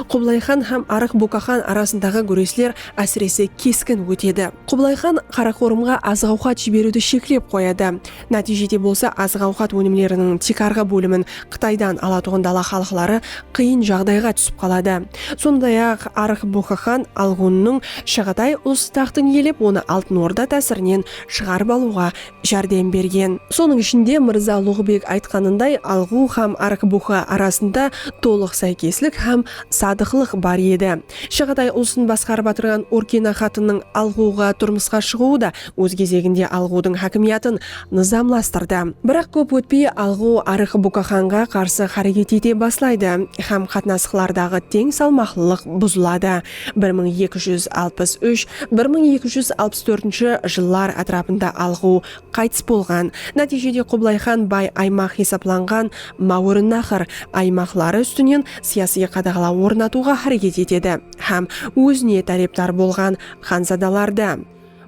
Qubılay xan hám Arıq Buka xan arasındaǵı gúresler ásirese keskin ótedi. Qubılay xan Qaraqorımǵa azıq-awqat jiberiwdi sheklep qoyadı. Nátiyjede bolsa azıq-awqat ónimleriniń tiykarǵı bólimin Qıtaydan alatuǵın dala xalıqları qıyın jaǵdayǵa túsip qaladı. Sonday-aq, Arıq Boqı xan Algunnıń Shaǵatay ulısıtaxtın iyelep, onı Altın Orda tásirinen shıǵarıp alıwǵa járdem bergen. Sonıń ishinde, Mırza Luǵıbek aytqanınday, Alǵu xám Arıq Boqı arasında tolıq sáykeslik xám sadıqlıq bar edi. Shaǵatay ulısın basqarıp atırǵan Orkina xatınıń Alǵuǵa turmısqa shıǵıwı da óz gezeginde Alǵudıń hákimiyatın nızamlastırdı. Biraq kóp ótpey Alǵu Arık Bukaxanǵa qarsı xáreket ete baslaydı hám qatnasıqlardaǵı teń salmaqlılıq buzıladı. Bir mıń eki júz alpıs úsh, bir mıń eki júz alpıs tórtinshi jıllar átirapında Alǵu qaytıs bolǵan, nátiyjede Qublay xan bay aymaq hesaplanǵan Máwrınnaxr aymaqları ústinen siyasıy qadaǵalaw ornatıwǵa xáreket etedi hám ózine tárepdar bolǵan xanzadalardı,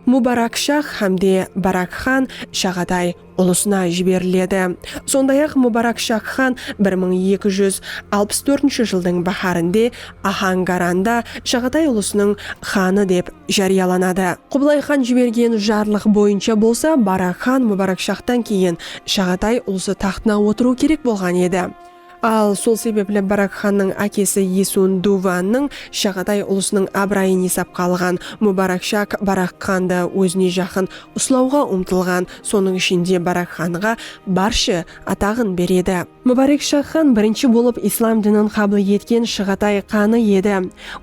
Mubarakshah hám de Barak xan Shaǵatay ulısına jiberiledi. Sonday-aq, Mubarakshah xan bir mıń eki júz alpıs tórtinshi jıldıń báhárinde Ahangaranda Shaǵatay ulısınıń xanı dep járiyalanadı. Qublay xan jibergen jarlıq boyınsha bolsa Barak xan Mubarakshahtan keyin Shaǵatay ulısı taxtına otırıwı kerek bolǵan edi. Al, sol sebepli Barak xannıń ákesi Esun Duvannıń Shagaday ulısınıń abırayın esapqa alǵan Mubarak Shak Barak xandı ózine jaqın uslawǵa umtılǵan, sonıń ishinde Barak xanǵa barshi ataǵın beredi. Mubarek Shak xan birinshi bolıp islam dinin qabıl etken Shıǵatay xanı edi.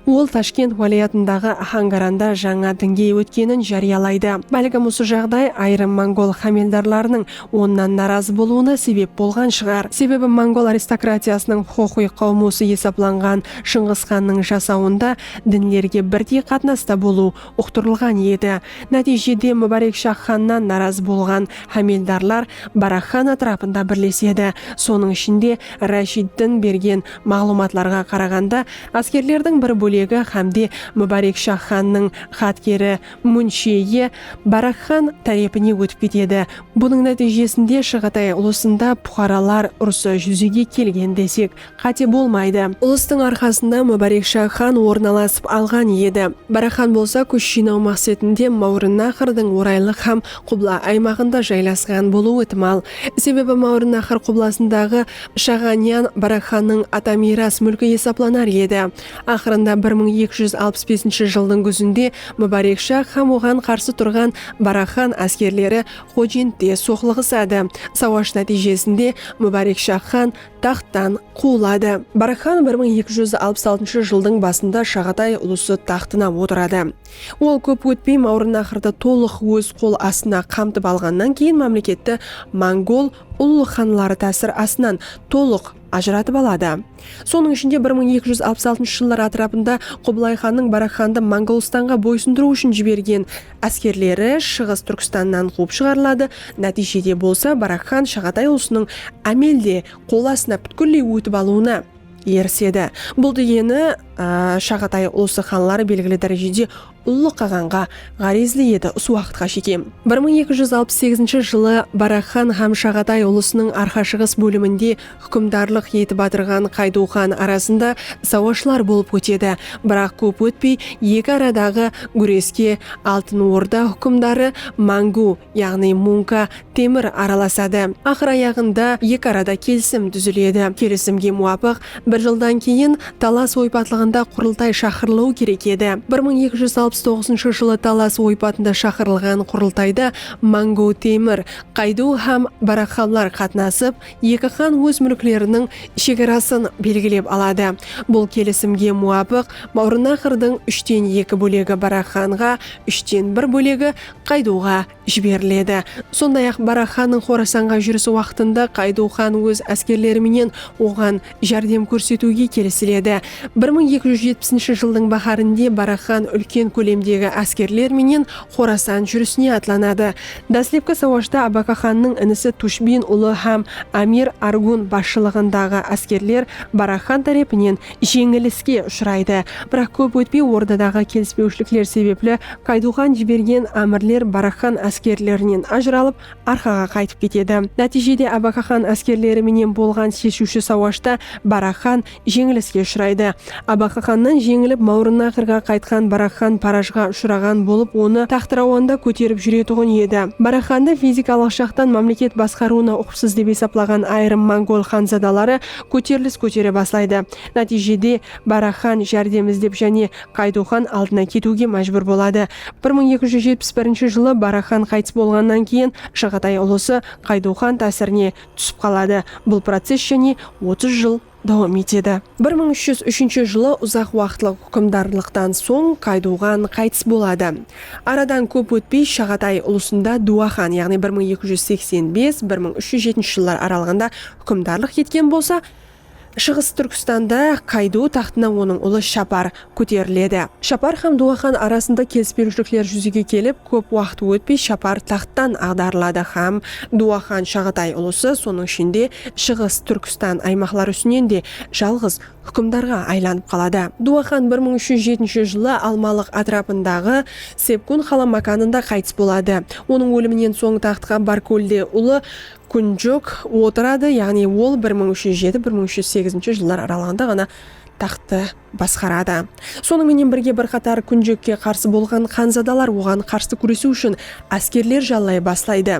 Ol Tashkent wálayatındaǵı Axangaranda jańa dinge ótkenin járiyalaydı. Bálkim usı jaǵday ayırım mongol xámeldarlarınıń onnan narazı bolıwına sebep bolǵan shıǵar. Sebebi mongol aristokratiyasınıń huqıqıy qawmusı esaplanǵan Shıńǵıs xannıń jasawında dinlerge birdey qatnasta bolıw uqtırılǵan edi. Nátiyjede Múbárekshah xannan narazı bolǵan hámeldarlar Barak xan átirapında birlesedi. Sonıń ishinde, Rashiddin bergen maǵlıwmatlarǵa qaraǵanda, áskerlerdiń bir bólegi hámde Múbárekshah xannıń xatkeri Munshiyye Barakxan tárepine ótip ketedi. Bunıń nátiyjesinde Shaǵatay ulısında puqaralar urısı júzege kelgen desek, qáte bolmaydı. Ulıstıń arqasında Múbárekshá xan orın alasıp alǵan edi. Barakxan bolsa kúsh jıynaw maqsetinde Máwrınnaxrdıń oraylıq hám qubla aymaǵında jaylasqan bolıwı itimal. Sebebi Máwrınnaxr qublasındaǵı Shaǵanyan Barakxannıń ata miyras múlki esaplanar edi. Aqırında bir mıń eki júz alpıs besinshi jıldıń gúzinde Múbárek shah hám oǵan qarsı turǵan Barak xan áskerleri Xojentte soqlıǵısadı. Sawaj nátiyjesinde Múbárek shah xan taxttan quwıladı. Barak xan bir mıń eki júz alpıs altınshı jıldıń basında Shaǵatay ulısı taxtına otıradı. Ol kóp ótpey Mawrınnahırdı tolıq óz qol astına qamtıp alǵannan keyin mámleketti mongol ullı xanları tásir astınan tolıq. ajıratıp aladı. Sonıń ishinde bir mıń eki júz alpıs altınshı jıllar atırapında Qubılay xannıń Barak xandı Mongolıstanǵa boysındırıw ushın jibergen áskerleri Shıǵıs Túrkstannan quwıp shıǵarıladı, nátiyjede bolsa Barak xan Shaǵatay ulısınıń ámelde qol astına pútkilley ótip alıwına erisedi. Bul degeni Shaǵatay ulısı xanları belgili dárejede Ullı qaǵanǵa ǵárezli edi usı waqıtqa shekem. Bir mıń eki júz alpıs segizinshi jılı Barak xan hám Shaǵatay ulısınıń arqa-shıǵıs bóliminde húkimdarlıq etip atırǵan Qaydu xan arasında sawashlar bolıp ótedi. Biraq kóp ótpey eki aradaǵı gúreske Altın Orda húkimdarı Máńgú, yaǵnıy munka, temir, aralasadı. Aqır-ayaǵında eki arada kelisim dúziledi. Kelisimge muwapıq, bir jıldan keyin Talas oypatlıǵında qurıltay shaqırılıwı kerek edi. Bir mıń eki júz alpıs toǵızınshı jılı Talas oypatında shaqırılǵan qurıltayda Mangu Temir, Qaydu hám Baraqxanlar qatnasıp, eki xan óz múlkleriniń shegarasın belgilep aladı. Bul kelisimge muwapıq, Mawrınnaqırdıń úshten eki bólegi Baraqxanǵa, úshten bir bólegi qaydıwǵa jiberiledi. Sonday-aq, Barak xannıń Xorasanǵa júrisi waqtında Qaydıw xan óz áskerleri menen oǵan járdem kórsetiwge kelisiledi. Bir mıń eki júz jetpisinshi jıldıń báhárinde Barak xan úlken kólemdegi áskerler menen Xorasan júrisine atlanadı. Dáslepki sawashta Abaka xannıń inisi Tushbin ulı hám Amir Argun basshılıǵındaǵı áskerler Barak xan tárepinen jeńiliske ushıraydı. Biraq kóp ótpey ordadaǵı kelispewshilikler sebepli Qayduxan jibergen ámirler Barakxan áskerlerinen ajıralıp Arqaǵa qaytıp ketedi. Nátiyjede Abakaxan áskerleri menen bolǵan sheshiwshi sawashta Barakxan jeńiliske ushıraydı. Abakaxannan jeńilip Mawrınnaqırǵa qaytqan Barakxan parajǵa ushıraǵan bolıp onı taxtırawanda kóterip júretuǵın edi. Barakxandı fizikalıq jaqtan mámleket basqarıwına uqıpsız dep esaplaǵan ayırım mongol xanzadaları Kóterilis kótere baslaydı. Nátiyjede Barak xan járdem izlep jáne Qaydu xan aldına ketiwge májbúr boladı. Bir mıń eki júz jetpis birinshi jılı Barak xan qaytıs bolǵannan keyin Jaǵatay ulısı Qaydu xan tásirine túsip qaladı. Bul process jáne otız jıl dawam etedi. Bir mıń úsh júz úshinshi jılı uzaq waqıtlıq húkimdarlıqtan soń Qaydu xan qaytıs boladı. Aradan kóp ótpey Shaǵatay ulısında Dua xan yaǵnıy bir mıń eki júz seksen bes, bir mıń úsh júz jetinshi jıllar aralıǵında Húkimdarlıq etken bolsa, Shıǵıs Túrkistanda Kaydu taxtına onıń ulı Shapar kóteriledi. Shapar hám Duwaxan arasında kelispewshilikler júzege kelip, kóp waqıt ótpey Shapar taxttan aǵdarıladı hám Duwaxan Shaǵatay ulısı, sonıń ishinde, Shıǵıs Túrkistan aymaqları ústinen de jalǵız húkimdarǵa aylanıp qaladı. Duwaxan bir mıń úsh júz jetinshi jılı Almalıq átirapındaǵı Sepgun qala mákanında qaytıs boladı. Onıń óliminen soń taxtqa Barkólde ulı Kúnjok otıradı, yaǵnıy ol bir mıń úsh júz jeti, bir mıń úsh júz segizinshi jıllar aralığında ǵana taxttı basqaradı. Sonıń menen birge bir qatar Kúnjokke qarsı bolǵan xanzadalar oǵan qarsı kúresiw ushın áskerler jallay baslaydı.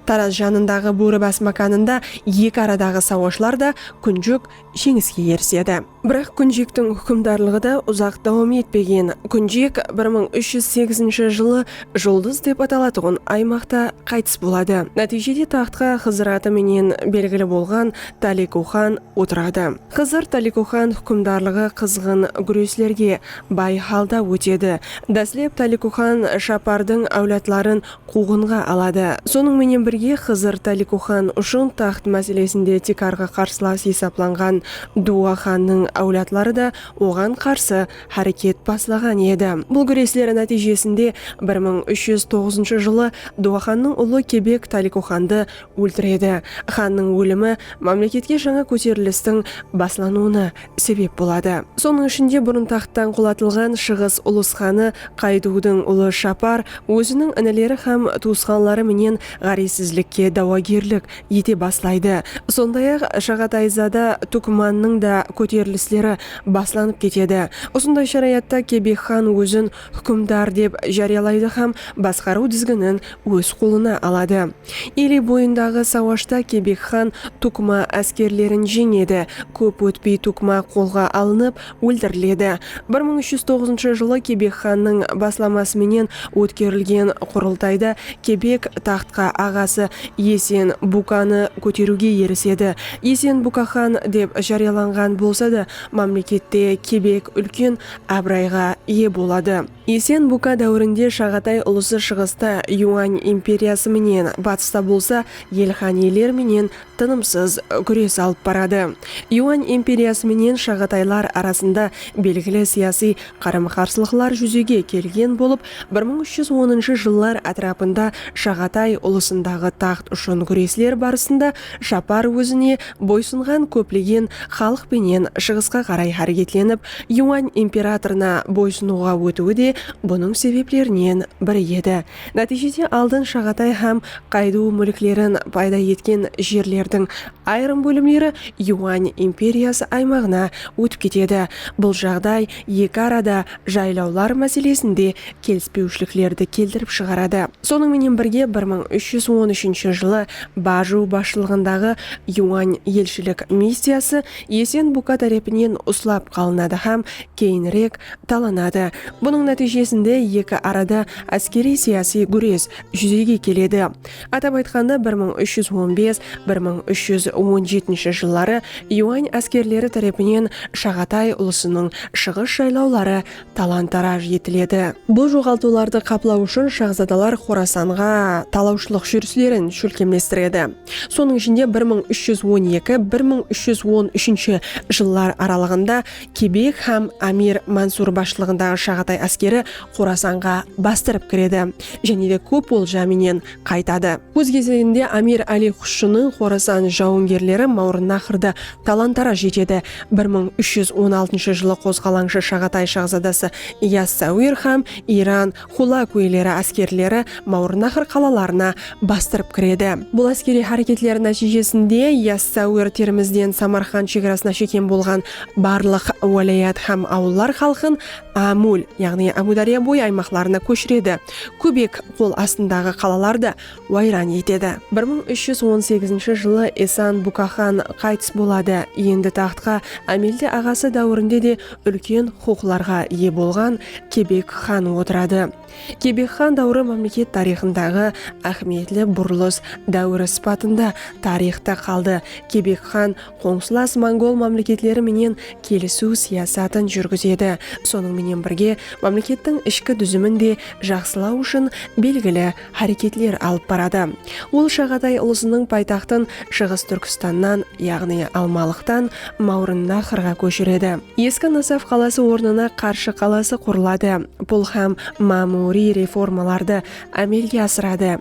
Taraz janındaǵı Bóribas mákanında eki aradaǵı sawashlarda Kúnjok jeńiske erisedi. Biraq Kúnjektiń húkimdarlıǵı da uzaq dawam etpegen. Kúnjek bir mıń úsh júz segizinshi jılı Juldız dep atalatuǵın aymaqta qaytıs boladı. Nátiyjede taxtqa Xızır atı menen belgili bolǵan Taliku xan otiradı. Xızır Taliku xan húkimdarlıǵı qızǵın gúreslerge bay halda ótedi. Dáslep Taliku xan Shapardıń áwladların quwǵınǵa aladı. Sonıń menen birge, Xızır Táliku xan ushın taxt máselesinde tiykarǵı qarsılas esaplanǵan Duwa xannıń áwladları da oǵan qarsı háreket baslaǵan edi. Bul gúresler nátiyjesinde bir mıń úsh júz toǵızınshı jılı Duwa xannıń ulı Kebek Táliku xandı óltiredi. Xannıń ólimi mámleketke jańa kóterilistiń baslanıwına sebep boladı. Sonıń ishinde burın taxttan qulatılǵan Shıǵıs ulus xanı Qayduwdıń ulı Shapar óziniń inileri hám tuwısqanları menen ǵárezsizlikke dawagerlik ete baslaydı. Sonday-aq, Shaǵatayzada Túkmannıń da kóterilisleri baslanıp ketedi. Usınday sharayatta Kebek xan ózin húkimdar dep járiyalaydı hám basqarıw dizginin óz qolına aladı. Ili boyındaǵı sawashta Kebek xan Tukma áskerlerin jeńedi. Kóp ótpey Tukma qolǵa alınıp, óltiriledi. Bir mıń úsh júz toǵızınshı jılı Kebek xannıń baslaması menen ótkerilgen qurıltayda Kebek taxtqa aǵası Esen Bukanı kóteriwge erisedi. Esen Buka xan dep járiyalanǵan bolsa da, mámlekette Kebek úlken abırayǵa iye boladı. Esen Buka dáwirinde Shaǵatay ulısı shıǵısta Yuań imperiyası menen, batısta bolsa Elxaniler menen tınımsız gúres alıp baradı. Yuań imperiyası menen Shaǵataylar arasında belgili siyasiy qarım-qarsılıqlar júzege kelgen bolıp, bir mıń úsh júz onınshı jıllar átirapında Shaǵatay ulısındaǵı taxt ushın gúresler barısında Japar ózine boysınǵan kóplegen xalıq penen shıǵısqa qaray háreketlenip, Yuan imperatorına boysınıwǵa ótiwi de bunıń sebeplerinen biri edi. Nátiyjede aldın Shaǵatay hám Qayduw múlklerin payda etken jerlerdiń ayırım bólimleri Yuan imperiyası aymaǵına ótip ketedi. Bul jaǵday eki arada jaylawlar máselesinde kelispewshiliklerdi keltirip shıǵaradı. Sonıń menen birge bir mıń úsh júz on úshinshi jılı Baju basshılıǵındaǵı Yuan elshilik missiyası Esen Buka tárepinen uslap qalınadı hám keyinirek talanadı. Bunıń nátiyjesinde eki arada áskeriy-siyasiy gúres júzege keledi. Atap aytqanda, bir mıń úsh júz on bes, bir mıń úsh júz on jetinshi jılları Yuan áskerleri tárepinen Shaǵatay ulısınıń shıǵıs jaylawları talan-taraj etiledi. Bul joǵaltıwlardı qaplaw ushın shaxzadalar Xorasanǵa talawshılıq júrislerin shólkemlestiredi. Sonıń ishinde, bir mıń úsh júz on eki, bir mıń úsh júz on úshinshi jıllar aralıǵında Kebek hám Amir Mansur basshılıǵındaǵı Shaǵatay áskeri Xorasanǵa bastırıp kiredi jáne de kóp olja menen qaytadı. Óz gezeginde Amir Ali Xushınıń Xorasan jawıngerleri Mawrınnaxrdı talan-taraj etedi. Bir mıń úsh júz on altınshı jılı qozǵalańshı Shaǵatay shaxzadası Yas-Sawir hám Iran Xulakuyleri áskerleri Mawrınnaxr qalalarına bastırıp kiredi. Bul áskeriy háreketler nátiyjesinde Yas-Sawir Termizden Samarqand shegarasına shekem bolǵan barlıq wálayat hám awıllar xalqın Amul, yaǵnıy Ámudárya boyı aymaqlarına kóshiredi, kóbek qol astındaǵı qalalardı wayran etedi. Bir mıń úsh júz on segizinshi jılı Esan Bukaxan qaytıs boladı, endi taxtqa Ámeldi aǵası dáwirinde de úlken huqıqlarǵa iye bolǵan Kebek xan otıradı. Kebek xan dáwiri mámleket tariyxındaǵı áhmiyetli burılıs dáwiri sıpatında tariyxta qaldı. Kebek xan qońsılas mongol mámleketleri menen kelisiw siyasatın júrgizedi, sonıń menen birge mámlekettiń ishki dúzimin de jaqsılaw ushın belgili háreketler alıp baradı. Ol Shaǵatay ulısınıń paytaxtın Shıǵıs Túrkistannan, yaǵnıy Almalıqtan Mawrınnaxrǵa kóshiredi. Eski Nasaf qalası ornına Qarshı qalası qurıladı. Pul hám mámuriy reformalardı ámelge asıradı.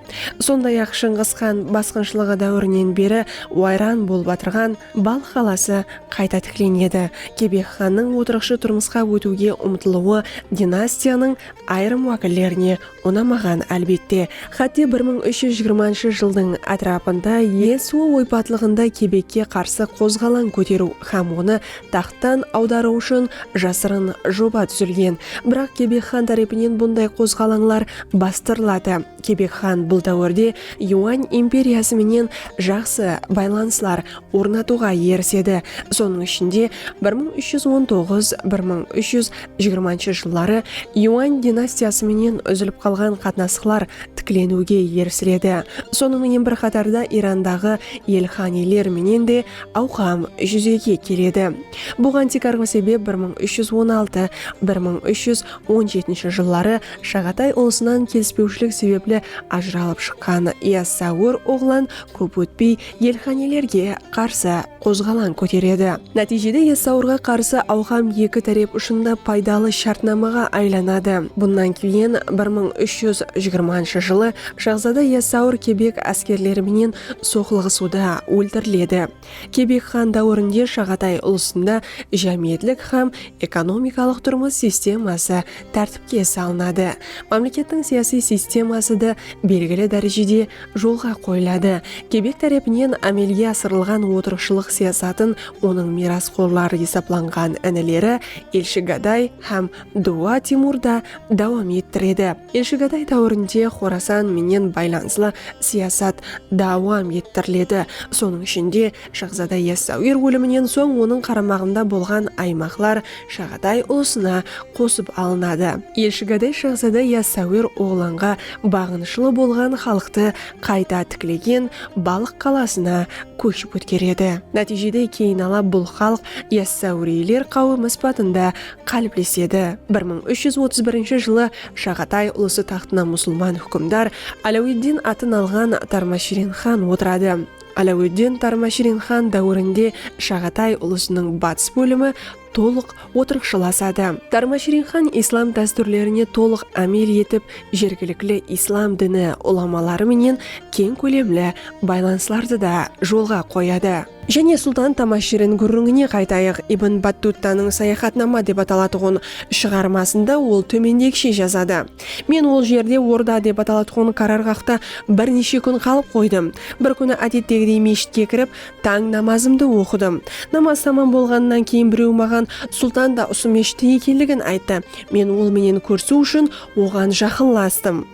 Sonday-aq, Shıńǵıs xan basqınshılıǵı dáwirinen beri wayran bolıp atırǵan Balx qalası qayta tiklenedi. Kebek xannıń otırıqshı turmısqa ótiwge umtılwı dinastiyanıń ayırım wákillerine Unamaǵan, álbette. Xátte bir mıń úsh júz jigirmanshı jıldıń átirapında Yesua oypatlıǵında Kebekke qarsı qozǵalań kóteriw hám onı taxttan awdarıw ushın jasırın joba dúzilgen. Biraq Kebek xan tárepinen bunday qozǵalańlar bastırıladı. Kebek xan bul dáwirde Yuan imperiyası menen jaqsı baylanıslar ornatıwǵa erisedi, sonıń ishinde, bir mıń úsh júz on toǵız, bir mıń úsh júz jigirmanshı jılları Yuan dinastiyası menen úzilip qalǵan qatnasıqlar tikleniwge erisiledi, sonıń menen bir qatarda Irandaǵı elxaniyler menen de awqam júzege keledi. Buǵan tiykarǵı sebep bir mıń úsh júz on altı, bir mıń úsh júz on jetinshi jılları Shaǵatay ulısınan kelispewshilik sebepli ajıralıp shıqqan Yassaúir oǵlan kóp ótpey Elxanelerge qarsı qozǵalań kóteredi. Nátiyjede esawırǵa qarsı awqam eki tárep ushın da paydalı shártnamaǵa aylanadı. Bunnan keyin bir mıń úsh júz jigirmanshı jılı shahzada esawır kebek áskerleri menen soqlıǵısıwda óltiriledi. Kebek xan dáwirinde Shaǵatay ulısında jámiyetlik hám ekonomikalıq turmıs sisteması tártipke salınadı, mámlekettiń siyasiy sisteması da belgili dárejede jolǵa qoyıladı. Kebek tárepinen ámelge asırılǵan otırıqshılıq siyasatın onıń miyrasxorları esaplanǵan inileri Elshigaday hám Duwa Timur da dawam ettiredi. Elshigaday dáwirinde Xorasan menen baylanıslı siyasat dawam ettiriledi, sonıń ishinde, Shaxzada Yassawir óliminen soń onıń qaramaǵında bolǵan aymaqlar Shaǵaday ulısına qosıp alınadı. Elshigaday shaxzada Yassawir oǵlanǵa baǵınıshlı bolǵan xalıqtı qayta tiklegen Balıq qalasına kóship ótkeredi. Nátiyjede keyinala bul xalıq Yassawiriyler qáwimi sıpatında qáliplesedi. Bir mıń úsh júz otız birinshi jılı Shaǵatay ulısı taxtına musulman húkimdar Aláwiddin atın alǵan Tarmashirin xan otıradı. Aláwetdin Tarmashirin xan dáwirinde Shaǵatay ulısınıń batıs bólimi tolıq otırıqshılasadı. Tarmashirin xan islam dástúrlerine tolıq ámel etip, jergilikli islam dini ulamaları menen keń kólemli baylanıslardı da jolǵa qoyadı. Jáne Sultan Tamashirin gúrrińine qaytayıq, Ibn Battuttanıń Sayaxatnama dep atalatuǵın shıǵarmasında ol tómendegishe jazadı. Men ol jerde orda dep atalatuǵın qararǵaqta bir neshe kún qalıp qoydım. Bir kúni ádettegidey meshitke kirip, tań namazımdı oqıdım. Namaz tamam bolǵanınan keyin bireu maǵan Sultan da usı meshitte ekenligin ayttı. Men ol menen kórisiu ushın oǵan jaqınlastım.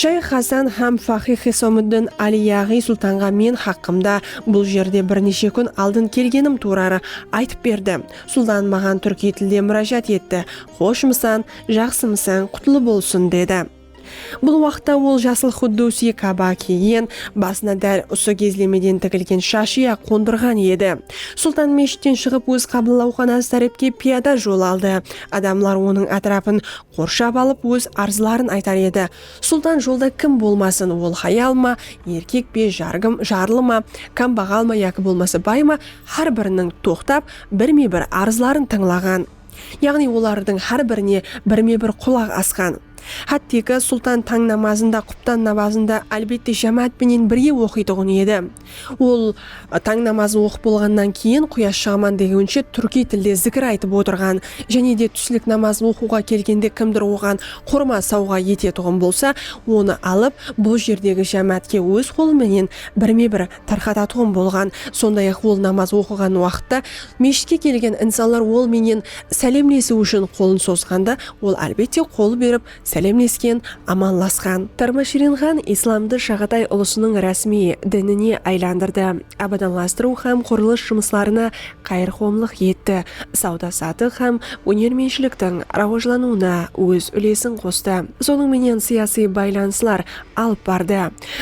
Shayx Xasan hám faqih Xisomúddin Ali yaǵıy Sultanǵa men haqqımda bul jerde bir neshe kún aldın kelgenim tuurarı aytıp berdi. Sultan maǵan túrkiy tilde múrájat etti, Xoshmısan, Jaqsımısań, qutlı bolsın, dedi. Bul waqıtta ol jasıl xuddusi kaba kiygen, basına dál usı gezlemeden tigilgen shashıya qondırǵan edi. Sultan meshitten shıǵıp óz qabıllawxanası tárepke piyada jol aldı. Adamlar onıń átirapın qorshap alıp óz arzların aytar edi. Sultan jolda kim bolmasın, ol hayal ma, erkek pe, jargım, jarlı ma, kambaǵal ma yaki bolmasa bay ma, hár biriniń toqtap, birme-bir arzların tıńlaǵan. Yaǵnıy olardıń hár birine birme-bir qulaq asqan. Hátteki, Sultan tań namazın da, quptan nabazın da, álbette, jámáát penen birge oqıytuǵın edi. Ol tań namazın oqıp bolǵannan keyin, quyash shıǵaman degeunshe túrkiy tilde zikir aytıp otırǵan. Jáne de túslik namazın oqıwǵa kelgende kimdur oǵan qurma sawǵa etetuǵın bolsa, onı alıp, bul jerdegi jámáátke óz qolı menen birme-bir tarqatatuǵın bolǵan. Sonday-aq, ol namaz oqıǵan waqıtta meshitke kelgen insanlar ol menen sálemlesiw ushın qolın sozǵanda, ol, álbette, qol berip sálemlesken, amanlasqan. Tarmashirinxan islamdı Shaǵatay ulısınıń rásmiy dinine aylandırdı, abadanlastırıw hám qurılıs jumıslarına qayırqomlıq etti, sawda-satıq hám ónermentshiliktiń rawajlanıwına óz úlesin qostı. Sonıń menen sıyasıy baylanıslar alıp bardı.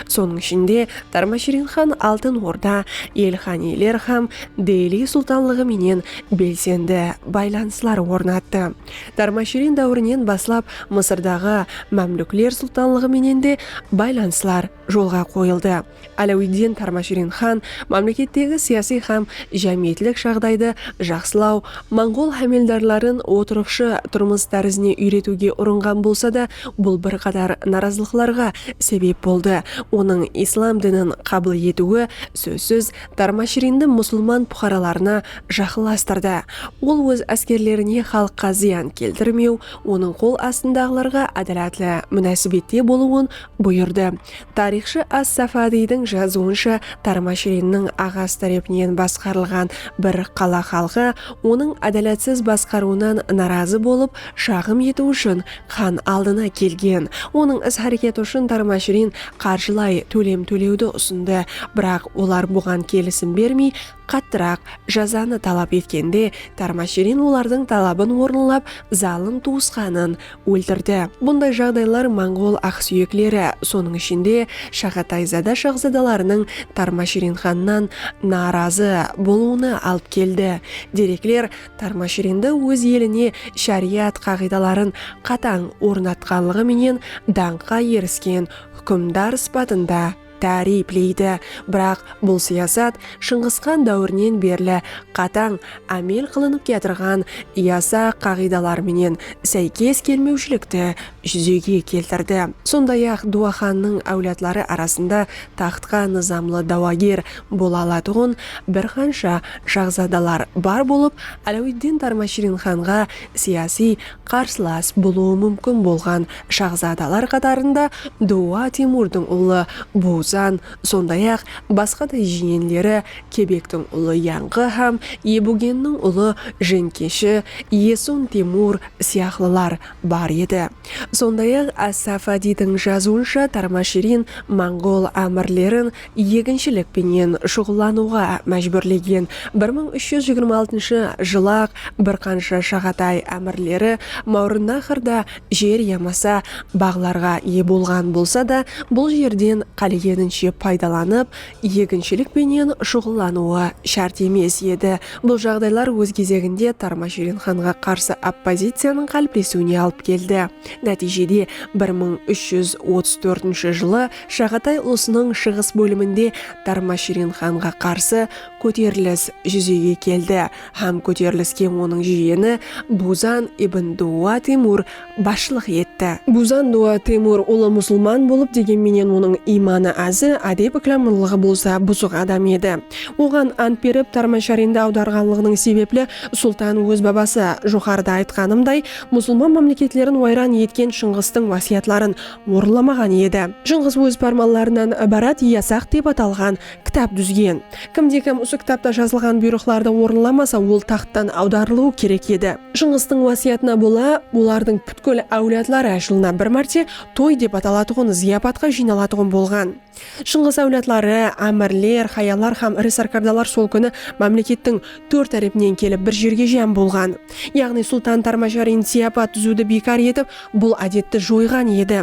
Sonıń ishinde, Tarmashirin xan Altın Orda, Elxaniyler hám Deli sultanlıǵı menen belsendi baylanıslar ornattı. Tarmashirin dáwirinen baslap Mısırdaǵı Mámlúkler sultanlıǵı menen de baylanıslar jolǵa qoyıldı. Áláwiddin Tarmashirin xan mámlekettegi siyasiy hám jámiyetlik jaǵdaydı jaqsılaw, monǵol hámeldarların otırıqshı turmıs tárizine úyretiwge urınǵan bolsa da, bul bir qatar narazılıqlarǵa sebep boldı. Onıń islam dinin qabıl etiwi, sózsiz, Tarmashirindi musılman puqaralarına jaqınlastırdı. Ol óz áskerlerine xalıqqa zıyan keltirmew, onıń qol astındaǵılarǵa ádalatlı múnásibette bolıwın Buyırdı. Tariyxshı As-Safadiydiń jazıwınsha, Tarmashrinniń aǵası tárepinen basqarılǵan bir qala xalqı onıń ádalatsız basqarıwınan narazı bolıp, shaǵım etiw ushın xan aldına kelgen. Onıń is-háreketi ushın Tarmashrin qarjılay tólem tólewdi usındı, biraq olar buǵan kelisim bermey, Qattıraq jazanı talap etkende Tarmashirin olardıń talabın orınlap zalım tuwısqanın óltirdi. Bunday jaǵdaylar monǵol aqsúyekleri, sonıń ishinde Shaǵatayzada shaxzadalarınıń Tarmashirin xannan naarazı bolıwına alıp keldi. Derekler Tarmashirindi óz eline sháriyat qaǵıydaların qatań ornatqanlıǵı menen dańqqa erisken húkimdar sıpatında, táriypleydi, biraq bul siyasat Shıńǵısxan dáwirinen berli qatań ámel qılınıp kiyatırǵan yasa qaǵıydalar menen sáykes kelmewshilikti júzege keltirdi. Sonday-aq, Duwaxannıń áwladları arasında taxtqa nızamlı dáwager bola alatuǵın bir qansha shaxzadalar bar bolıp, Aláwiddin Tarmashirinxanǵa siyasiy Qarsılas bolıwı múmkin bolǵan shaxzadalar qatarında Duwa Teymurdıń ulı Buzan, sonday-aq, basqa da jiyenleri, Kebektiń ulı Yanǵı hám Ebugenniń ulı Jeńkeshi, Esun Teymur, sıyaqlılar bar edi. Sonday-aq, As-Safadiydiń jazıwınsha Tarmashirin monǵol ámirlerin eginshilik penen shuǵıllanıwǵa májbúrlegen bir mıń úsh júz jigirma altınshı jılı-aq bir qansha Shaǵatay ámirleri Máwrınnaxr da jer yamasa baǵlarǵa iye bolǵan bolsa da, bul jerden qálegeninshe paydalanıp, eginshilik penen shuǵıllanıwı shárt emes edi. Bul jaǵdaylar óz gezeginde Tarmashirin xanǵa qarsı oppoziciyanıń qáliplesiwine alıp keldi. Nátiyjede bir mıń úsh júz otız tórtinshi jılı Shaǵatay ulısınıń shıǵıs bóliminde Darmashirin xanǵa qarsı kóterilis júzege keldi hám kóteriliske onıń jiyeni Buzan ibn Duwa Temur basshılıq etti. Buzan Duwa Temur ulı musılman bolıp, degen menen onıń iymanı azı, ádep-ikramlılıǵı bolsa buzıq adam edi. Oǵan ant berip, Darmasharindi awdarǵanlıǵınıń sebepli sultan óz babası, joqarıda aytqanımday, musılman mámleketlerin wayran etken Shıńǵıstıń wásiyatların orınlamaǵan edi. Jıńǵız óz pármanlarınan ibarat Yasaq dep atalǵan kitap dúzgen. Kimde-kim usı kitapta jazılǵan buyrıqlardı orınlamasa, ol taxttan awdarılıwı kerek edi. Jıńǵıstıń wásiyatına bola, olardıń pútkil áwladları jılına bir márte toy dep atalatuǵın zıyapatqa jıynalatuǵın bolǵan. Shıńǵıs áwladları, ámirler, xayallar hám iri sárkardalar sol kúni mámlekettiń tórt tárepinen kelip bir jerge jám bolǵan. Yaǵnıy Sultan Tarmasharin siyapat dúziwdi biykar etip, bul ádetti joyǵan edi.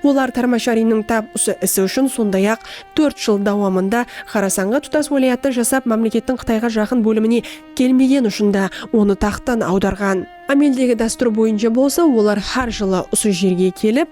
Olar Tarmasharinniń tap usı isi ushın sonday-aq, tórt jıl dawamında Xorasanǵa tutas wálayatta jasap, mámlekettiń Qıtayǵa jaqın bólimine kelmegeni ushın da onı taxttan awdarǵan. Ámeldegi dástúr boyınsha bolsa olar hár jılı usı jerge kelip,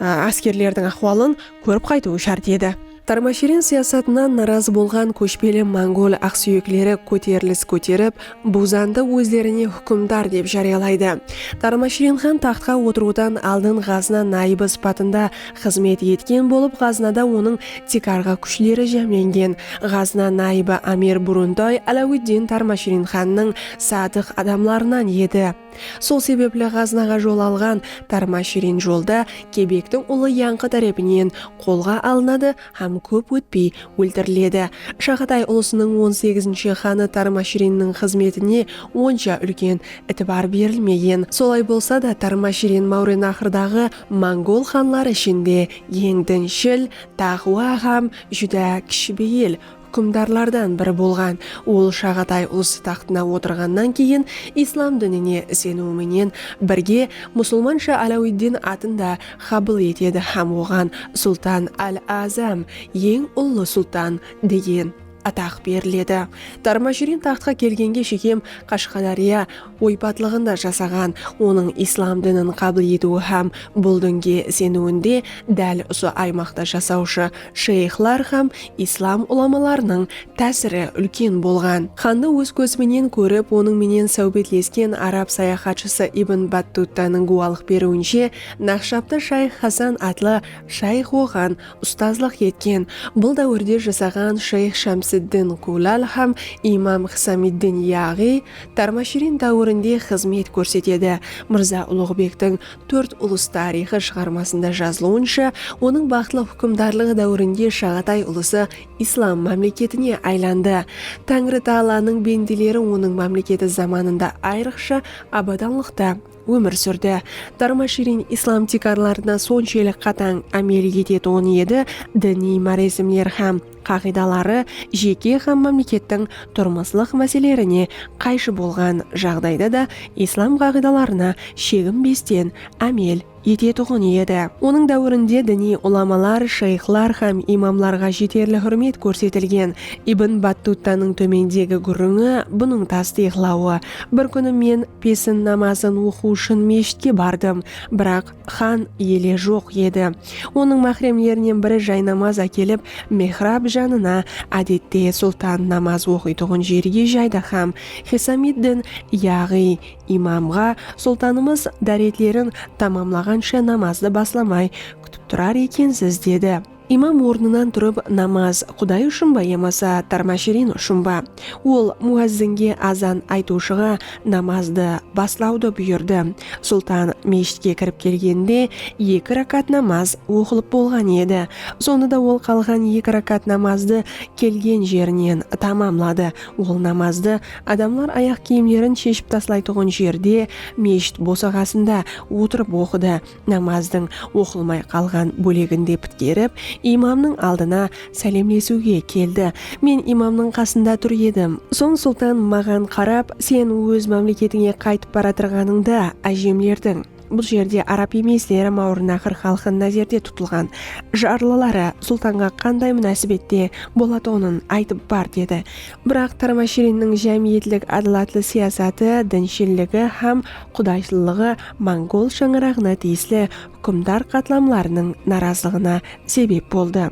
áskerlerdiń áhwalın kórip qaytıwı shárt edi. Tarmashirin siyasatınan narazı bolǵan kóshpeli mongol aqsúyekleri kóterilis kóterip, Buzandı ózlerine húkimdar dep járiyalaydı. Tarmashirin xan taxtqa otırıwdan aldın Ǵazna nayıbı sıpatında xızmet etken bolıp, Ǵaznada onıń tiykarǵı kúshleri jámlengen. Ǵazna nayıbı amir Buruntoy Aláwitdin Tarmashirin xannıń sadıq adamlarınan edi. Sol sebepli ǵazınaǵa jol alǵan tarma shirin jolda kebektiń ulı yańqı tárepinen qolǵa alınadı hám kóp ótpey óltiriledi. Shaǵatay ulısınıń on segizinshi xanı Tarma shirinniń xızmetine onsha úlken itibar berilmegen. Solay bolsa da Tarma shirin Máwrenaxrdaǵı mongol xanları ishinde eń dinshil, taqwa hám júdá kishibeyil, Húkimdarlardan biri bolǵan ol Shaǵatay ulsı taxtına otırǵannan keyin islam dinine iseniwi menen birge musılmansha Aláwiddin atın da xabıl etedi hám oǵan Sultan al-Azam, Eń ullı sultan, degen ataq beriledi. Tarmashirin taxtqa kelgenge shekem Qashqadárya, Oypatlıǵında jasaǵan, onıń islam dinin qabıl etiwi hám bul dinge iseniwinde dál usı aymaqta jasawshı sheyxlar hám islam ulamalarınıń tásiri úlken bolǵan. Xandı óz kózi menen kórip, onıń menen sáwbetlesken arab sayaxatshısı Ibn Battuttanıń gúwalıq beriwinshe, Naqshabtı shayx Hasan atlı shayx oǵan ustazlıq etken. Bul dáwirde jasaǵan shayx Shamsiddin Kulal hám imam Xisamiddin Yaǵiy Tarmashirin dáwirinde xızmet kórsetedi. Mırza Uluǵbektiń Tórt ulıs tariyxı shıǵarmasında jazılıwınsha, onıń baxıtlı húkimdarlıǵı dáwirinde Shaǵatay ulısı islam mámleketine aylandı. Táńri taalanıń bendeleri onıń mámleketi zamanında ayrıqsha abadanlıqta. ómir súrdi. Darma-shirin islam tiykarlarına sonshelli qatań ámel etetuǵın edi, diniy máresimler hám qaǵıydaları jeke hám mámlekettiń turmıslıq máselelerine qayshı bolǵan jaǵdayda da islam qaǵıydalarına sheginbesten ámel etetuǵın edi. Onıń dáwirinde diniy ulamalar, shayxlar hám imamlarǵa jeterli húrmet kórsetilgen. Ibn Battuttanıń tómendegi gúrrińi bunıń tastıyıqlawı, Bir kúni men, Pesin namazın oqıw ushın meshitke bardım, biraq xan ele joq edi. Onıń máhremlerinen biri jaynamaz ákelip, mihrab janına, ádette sultan namaz oqıytuǵın jerge jaydı hám Xisamiddin, yaǵıy, imamǵa, Sultanımız dáretlerin tamamlaǵansha namazdı baslamay kútip turar ekensiz, dedi. Imam ornınan turıp namaz Quday ushın ba yamasa Tarmashirin ushın ba? Ol muazzinge azan aytıwshıǵa namazdı baslawdı buyırdı. Sultan meshitke kirip kelgeninde eki rakat namaz oqılıp bolǵan edi. Sonı da ol qalǵan eki rakat namazdı kelgen jerinen tamamladı. Ol namazdı adamlar ayaq kiyimlerin sheship taslaytuǵın jerde, meshit bosaǵasında otırıp oqıdı. namazdıń oqılmay qalǵan bóleginde pitkerip, imamnıń aldına sálemlesiwge keldi. Men imamnıń qasında tur edim. Soń Sultan maǵan qarap, Sen óz mámleketińe qaytıp baratırǵanıńda, ájemlerdiń, bul jerde arab emes dermawırnaqır xalqı názerde tutılǵan, jarlıları Sultanǵa qanday múnásibette bolatuǵının aytıp bar, dedi. Biraq Tarmashirinniń jámiyetlik ádalatlı siyasatı, dinshilligi hám qudayshlılıǵı, mongol shańaraǵına tiyisli húkimdar qatlamlarınıń narazılıǵına sebep boldı.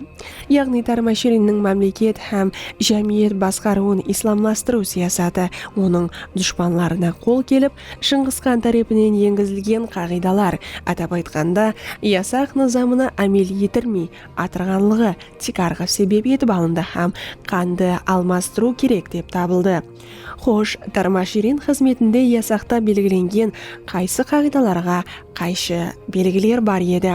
Yaǵnıy Tarmashirinniń mámleket hám jámiyet basqarıwın islamlastırıw siyasatı onıń dushpanlarına qol kelip, Shıńǵıs xan tárepinen engizilgen qaǵıydalar, atap aytqanda, yasaq nızamına ámel etirmey atırǵanlıǵı tiykarǵı sebep etip alındı hám xandı almastırıw kerek dep tabıldı. Xosh, Tarma Shirin xızmetinde yasaqta belgilengen qaysı qaǵıydalarǵa qayshı belgiler bar edi?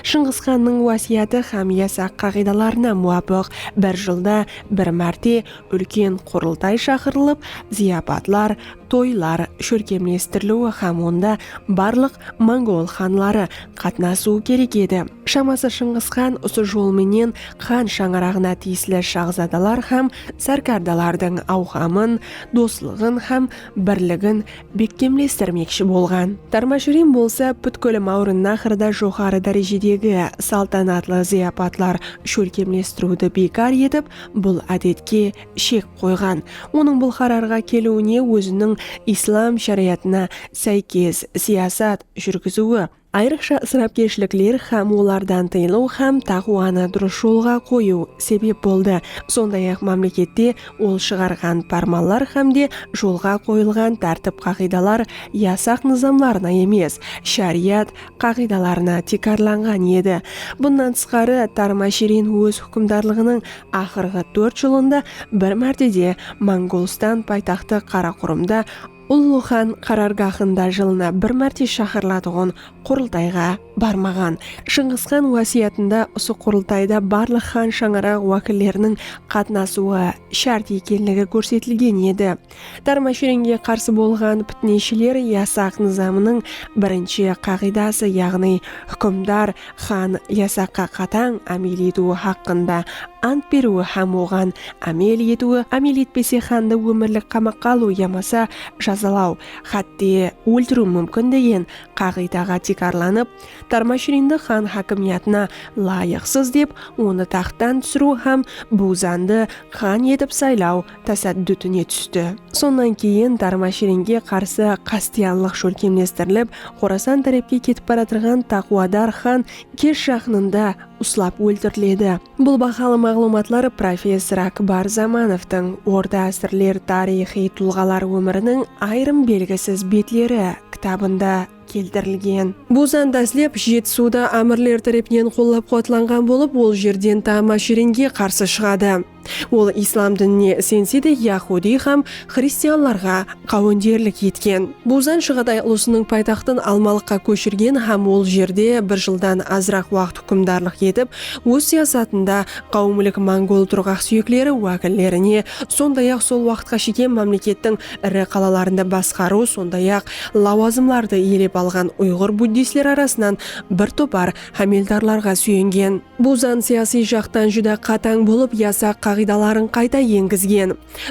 Shıńǵısxannıń wásiyatı hám yasaq qaǵıydalarına muwapıq bir jılda bir márte úlken qurıltay shaqırılıp, zıyapatlar, toylar, shólkemlestiriliwi hám onda barlıq mongol xanları, qatnasıwı kerek edi. Shaması Shıńǵıs xan usı jol menen xan shańaraǵına tiyisli shaxzadalar hám sárkardalardıń awqamın, doslıǵın hám birligin bekkemlestirmekshi bolǵan. Tarmashirin bolsa pútkil Mawrınnaxrda joqarı dárejedegi saltanatlı zıyapatlar shólkemlestiriwdi biykar etip, bul ádetke shek qoyǵan. Onıń bul qararǵa keliwine óziniń islam sharayatına sáykes siyasat, júrgiziwi, ayrıqsha isrápkershilikler hám olardan tıyılıw hám taqıwanı durıs jolǵa qoyıw sebep boldı, sonday-aq mámlekette ol shıǵarǵan pármanlar hám de jolǵa qoyılǵan tártip-qaǵıydalar yasaq nızamlarına emes, shariyat qaǵıydalarına tiykarlanǵan edi. Bunnan tısqarı, Tarmashirin óz húkimdarlıǵınıń aqırǵı tórt jılında bir mártede Mongolstan paytaxtı Qaraqurımda, Ullı xan qarargahında jılına bir márte shaqırılatuǵın qurıltayǵa barmaǵan. Shıńǵıs xan wásiyatında usı qurıltayda barlıq xan shańaraǵı wákilleriniń qatnasıwı shárt ekenligi kórsetilgen edi. Tarmashirenge qarsı bolǵan pitneshiler yasaq nızamınıń birinshi qaǵıydası yaǵnıy húkimdar Xan yasaqqa qatań ámel etiwi haqqında ant beriwi hám oǵan ámel etiwi, ámel etpese xandı ómirlik qamaqqa alıw yamasa jazalaw, hátte, óltiriw múmkin degen qaǵıydaǵa tiykarlanıp, Tarmashrindı xan hákimiyatına layıqsız dep, onı taxttan túsiriw hám Buzandı xan etip saylaw tasaddutine tústi. Sonnan keyin Tarma-shirenge qarsı qástiyanlıq shólkemlestirilip, Xorasan tárepke ketip baratırǵan taqwadar xan Kesh jaqınında uslap óltiriledi. Bul bahalı maǵlıwmatlar professor Akbar Zamanovtıń Orta ásirler tariyxıy tulǵalar ómiriniń ayırım belgisiz betleri kitabında keltirilgen. Bul zan dáslep Jetisuda ámirler tárepinen qollap-quwatlanǵan bolıp, ol jerden Tama-shirenge qarsı shıǵadı. Ol islam dinine isense de yahudiy hám xristianlarǵa qáwenderlik etken. Buzan Shıǵatay ulısınıń paytaxtın Almalıqqa kóshirgen hám ol jerde bir jıldan azıraq waqıt húkimdarlıq etip, óz siyasatında qáwimlik mongol turǵaqsúyekleri wákillerine, sonday-aq sol waqıtqa shekem mámlekettiń iri qalalarında basqarıw, sonday-aq lawazımlardı iyelep alǵan uyǵır buddistler arasınan bir topar hámeldarlarǵa súyengen. Bul zan siyasiy jaqtan júdá qatań bolıp yasaq qaǵıydaların qayta engizgen.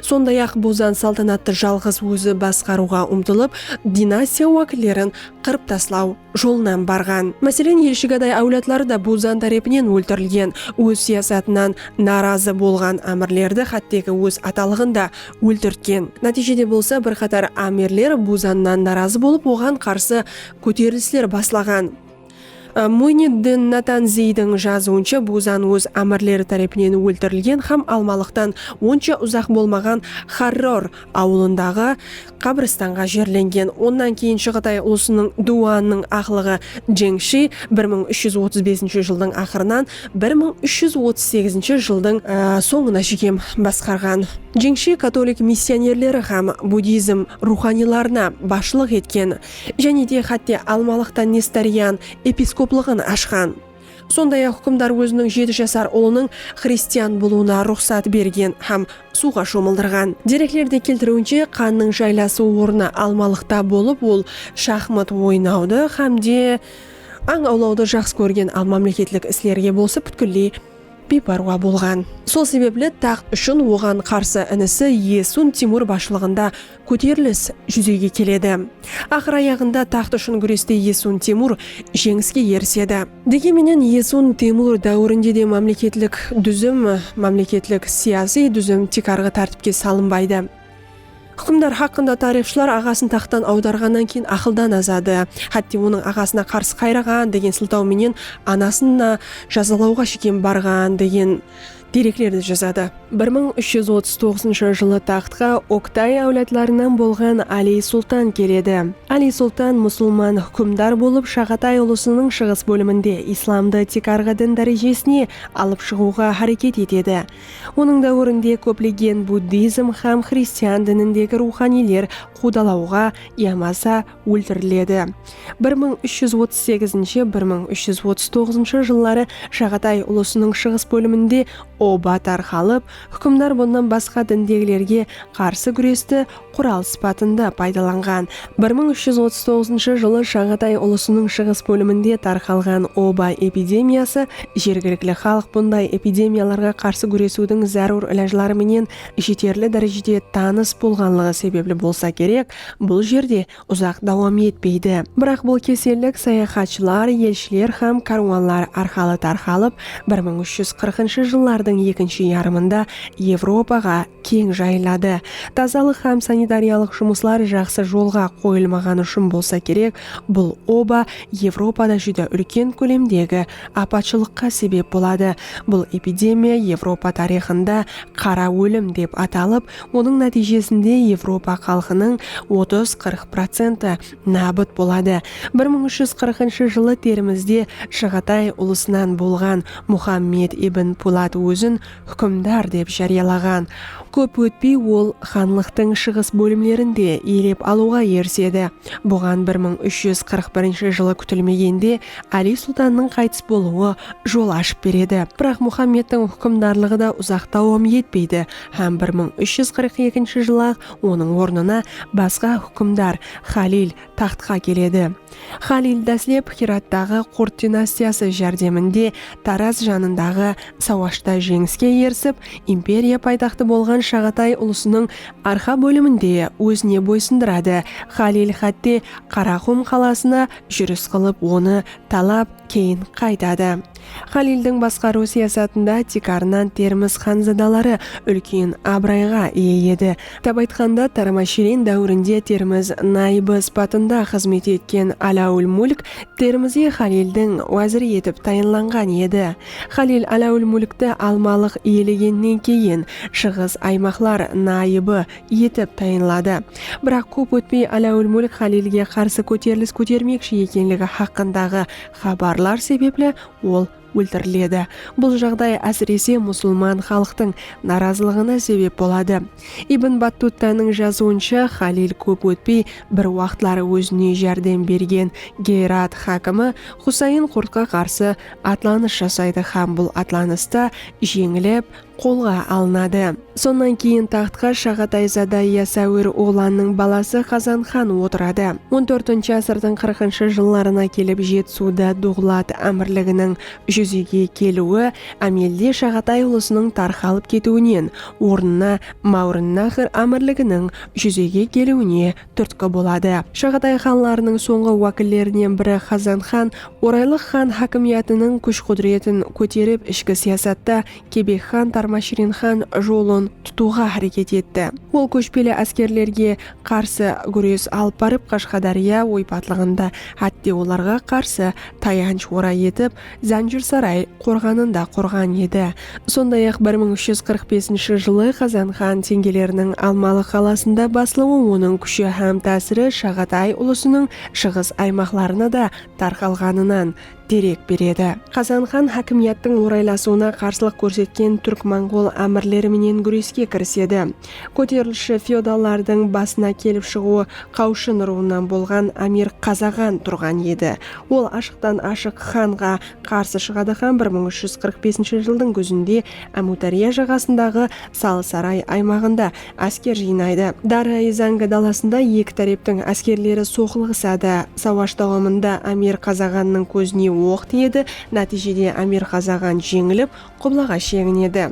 Sonday-aq bul zan saltanattı jalǵız ózi basqarıwǵa umtılıp, dinastiya wákillerin qırıp taslaw jolınan barǵan. Máselen, Elshigaday áwladları da bul zan tárepinen óltirilgen, óz siyasatınan narazı bolǵan ámirlerdi xátteki óz atalıǵın da óltirtken. Nátiyjede bolsa bir qatar ámirler bul zannan narazı bolıp oǵan qarsı kóterilisler baslaǵan. Muyniddin Natanziydiń jazıwınsha Buzan óz ámirleri tárepinen óltirilgen hám Almalıqtan onsha uzaq bolmaǵan Xarror awılındaǵı qabrıstanǵa jerlengen. Onnan keyin Shıǵıtay ulısınıń Duwanıń aqlıǵı Jeńshi bir mıń úsh júz otız besinshi jıldıń aqırınan bir mıń úsh júz otız segizinshi jıldıń sońına shekem basqarǵan. Jeńshi katolik missionerleri hám budizm ruwxaniylarına basshılıq etken. Jáne de xátte Almalıqta Nestorian episkoplıǵın ashqan. Sonday-aq húkimdar óziniń jeti jasar ulınıń xristian bolıwına ruxsat bergen hám suwǵa shomıldırǵan. Dereklerde keltiriwinshe, qannıń jaylasıw ornı Almalıqta bolıp, ol shaxmat oynawdı hám de ań awlawdı jaqsı kórgen al mámleketlik islerge bolsa pútkilley biypárwa bolǵan. Sol sebepli taxt ushın oǵan qarsı inisi Esun Timur basshılıǵında kóterilis júzege keledi. Aqır ayaǵında taxt ushın gúreste Esun Temur jeńiske erisedi. Degen menen Esun Temur dáwirinde de mámleketlik dúzim, mámleketlik siyasiy dúzim tiykarǵı tártipke salınbaydı. Húkimdar haqqında tariyxshılar aǵasın taxttan awdarǵannan keyin aqıldan azadı, hátte onıń aǵasına qarsı qayraǵan degen sıltaw menen anasın da jazalawǵa shekem barǵan degen Dereklerdi jazadı. Bir mıń úsh júz otız toǵızınshı jılı taxtqa Oktay áwladlarınan bolǵan Aliy Sultan keledi. Aliy Sultan musılman húkimdar bolıp Shaǵatay ulısınıń shıǵıs bóliminde islamdı tiykarǵı din dárejesine alıp shıǵıwǵa háreket etedi. Onıń dáwirinde kóplegen buddizm hám xristian dinindegi ruwxaniyler quwdalawǵa yamasa óltiriledi. Bir mıń úsh júz otız segizinshi, bir mıń úsh júz otız toǵızınshı jılları Shaǵatay ulısınıń shıǵıs bóliminde oba tarqalıp, húkimdar bunnan basqa dindegilerge qarsı gúresti qural sıpatında paydalanǵan. Bir mıń úsh júz otız toǵızınshı jılı Shaǵatay ulısınıń shıǵıs bóliminde tarqalǵan oba epidemiyası jergilikli xalıq bunday epidemiyalarǵa qarsı gúresiwdiń zárúr ilajları menen jeterli dárejede tanıs bolǵanlıǵı sebepli bolsa kerek, Bul jerde uzaq dawam etpeydi. Biraq bul kesellik sayaxatshılar, elshiler hám kárwanlar arqalı tarqalıp, bir mıń úsh júz qırqınshı jıllardıń ekinshi yarımında Evropaǵa keń jayıladı. Tazalıq hám sanitariyalıq jumıslar jaqsı jolǵa qoyılmaǵanı ushın bolsa kerek, bul oba Evropada júdá úlken kólemdegi apatshılıqqa sebep boladı. Bul epidemiya Evropa tariyxında Qara ólim dep atalıp, Onıń nátiyjesinde Evropa xalqınıń otız qırq procenti nábıt boladı. Bir mıń úsh júz qırqınshı jılı Termizde Shıǵatay ulısınan bolǵan Muxammed ibn Pulat ózin húkimdar dep járiyalaǵan. Kóp ótpey ol xanlıqtıń shıǵıs bólimlerin de iyelep alıwǵa erisedi. Buǵan bir mıń úsh júz qırq birinshi jılı kútilmegende Áli sultannıń qaytıs bolıwı jol ashıp beredi. Biraq Muxammedtiń húkimdarlıǵı da uzaq dawam etpeydi, Hám bir mıń úsh júz qırq ekinshi jılı-aq onıń ornına basqa húkimdar, Xalil, taxtqa keledi. Xalil dáslep Xirattaǵı Qurt dinastiyası járdeminde Taraz janındaǵı sawashta jeńiske erisip, imperiya paytaxtı bolǵan Shaǵatay ulısınıń arqa bólimin de ózine boysındıradı. Xalil xátte Qaraqum qalasına júris qılıp onı talap, keyin qaytadı. Xalildiń basqarıw siyasatında tiykarınan Termiz xanzadaları úlken abırayǵa iye edi. Atap aytqanda, Tarmashirin dáwirinde Termiz nayıbı sıpatında xızmet etken Aláwul Múlk Termizi Xalildiń wáziri etip tayınlanǵan edi. Xalil Aláwul Múlkti Almalıq iyelegennen keyin Shıǵıs aymaqlar nayıbı etip tayınladı. Biraq kóp ótpey Aláwul Múlk Xalilge qarsı kóterilis kótermekshi ekenligi haqqındaǵı xabarlar sebepli ol óltiriledi. Bul jaǵday ásirese musulman xalıqtıń narazılıǵına sebep boladı. Ibn Battuttanıń jazıwınsha, Xalil kóp ótpey bir waqıtlar ózine járdem bergen Geyrat xákimi Xusayn Qurtqa qarsı atlanıs jasaydı hám bul atlanısta jeńilip, qolǵa alınadı. Sonnan keyin taxtqa Shaǵatayzada Yasawir oǵlannıń balası Xazan xan otıradı. On tórtinshi ásirdiń qırqınshı jıllarına kelip Jetsuda Duǵlat ámirliginiń júzege keliwi ámelde Shaǵatay ulısınıń tarqalıp ketiwinen, ornına Máwrınnaxr ámirliginiń júzege keliwine túrtki boladı. Shaǵatay xanlarınıń sońǵı wákillerinen biri Xazan xan Oraylıq xan hákimiyatınıń kúsh-qúdiretin kóterip ishki siyasatta Kebek xan Tarmashirinxan jolın tutıwǵa háreket etti. Ol kóshpeli áskerlerge qarsı gúres alıp barıp Qashqadárya oypatlıǵında, hátte olarǵa qarsı tayansh oray etip, Zánjirsaray qorǵanın da qurǵan edi. Sonday-aq, bir mıń úsh júz qırq besinshi jılı Qazanxan tengeleriniń Almalı qalasında baslıwı onıń kúshi hám tásiri Shaǵatay ulısınıń shıǵıs aymaqlarına da tarqalǵanınan, derek beredi. Qazan xan hákimiyattıń oraylasıwına qarsılıq kórsetken túrk-monǵol ámirleri menen gúreske kirisedi. Kóterilishshi feodallardıń basına kelip shıǵıwı Qawshın ruwınan bolǵan Amir Qazaǵan turǵan edi. Ol ashıqtan-ashıq xanǵa qarsı shıǵadı hám bir mıń úsh júz qırq besinshi jıldıń gúzinde Ámiwdárya jaǵasındaǵı Salsaray aymaǵında Ásker jıynaydı. Dara-Ezanga dalasında eki táreptiń áskerleri soqılıǵısadı. Sawash dawamında Amir Qazaǵannıń kózine oq tiyedi, nátiyjede Amir Qazaǵan jeńilip, qublaǵa sheginedi.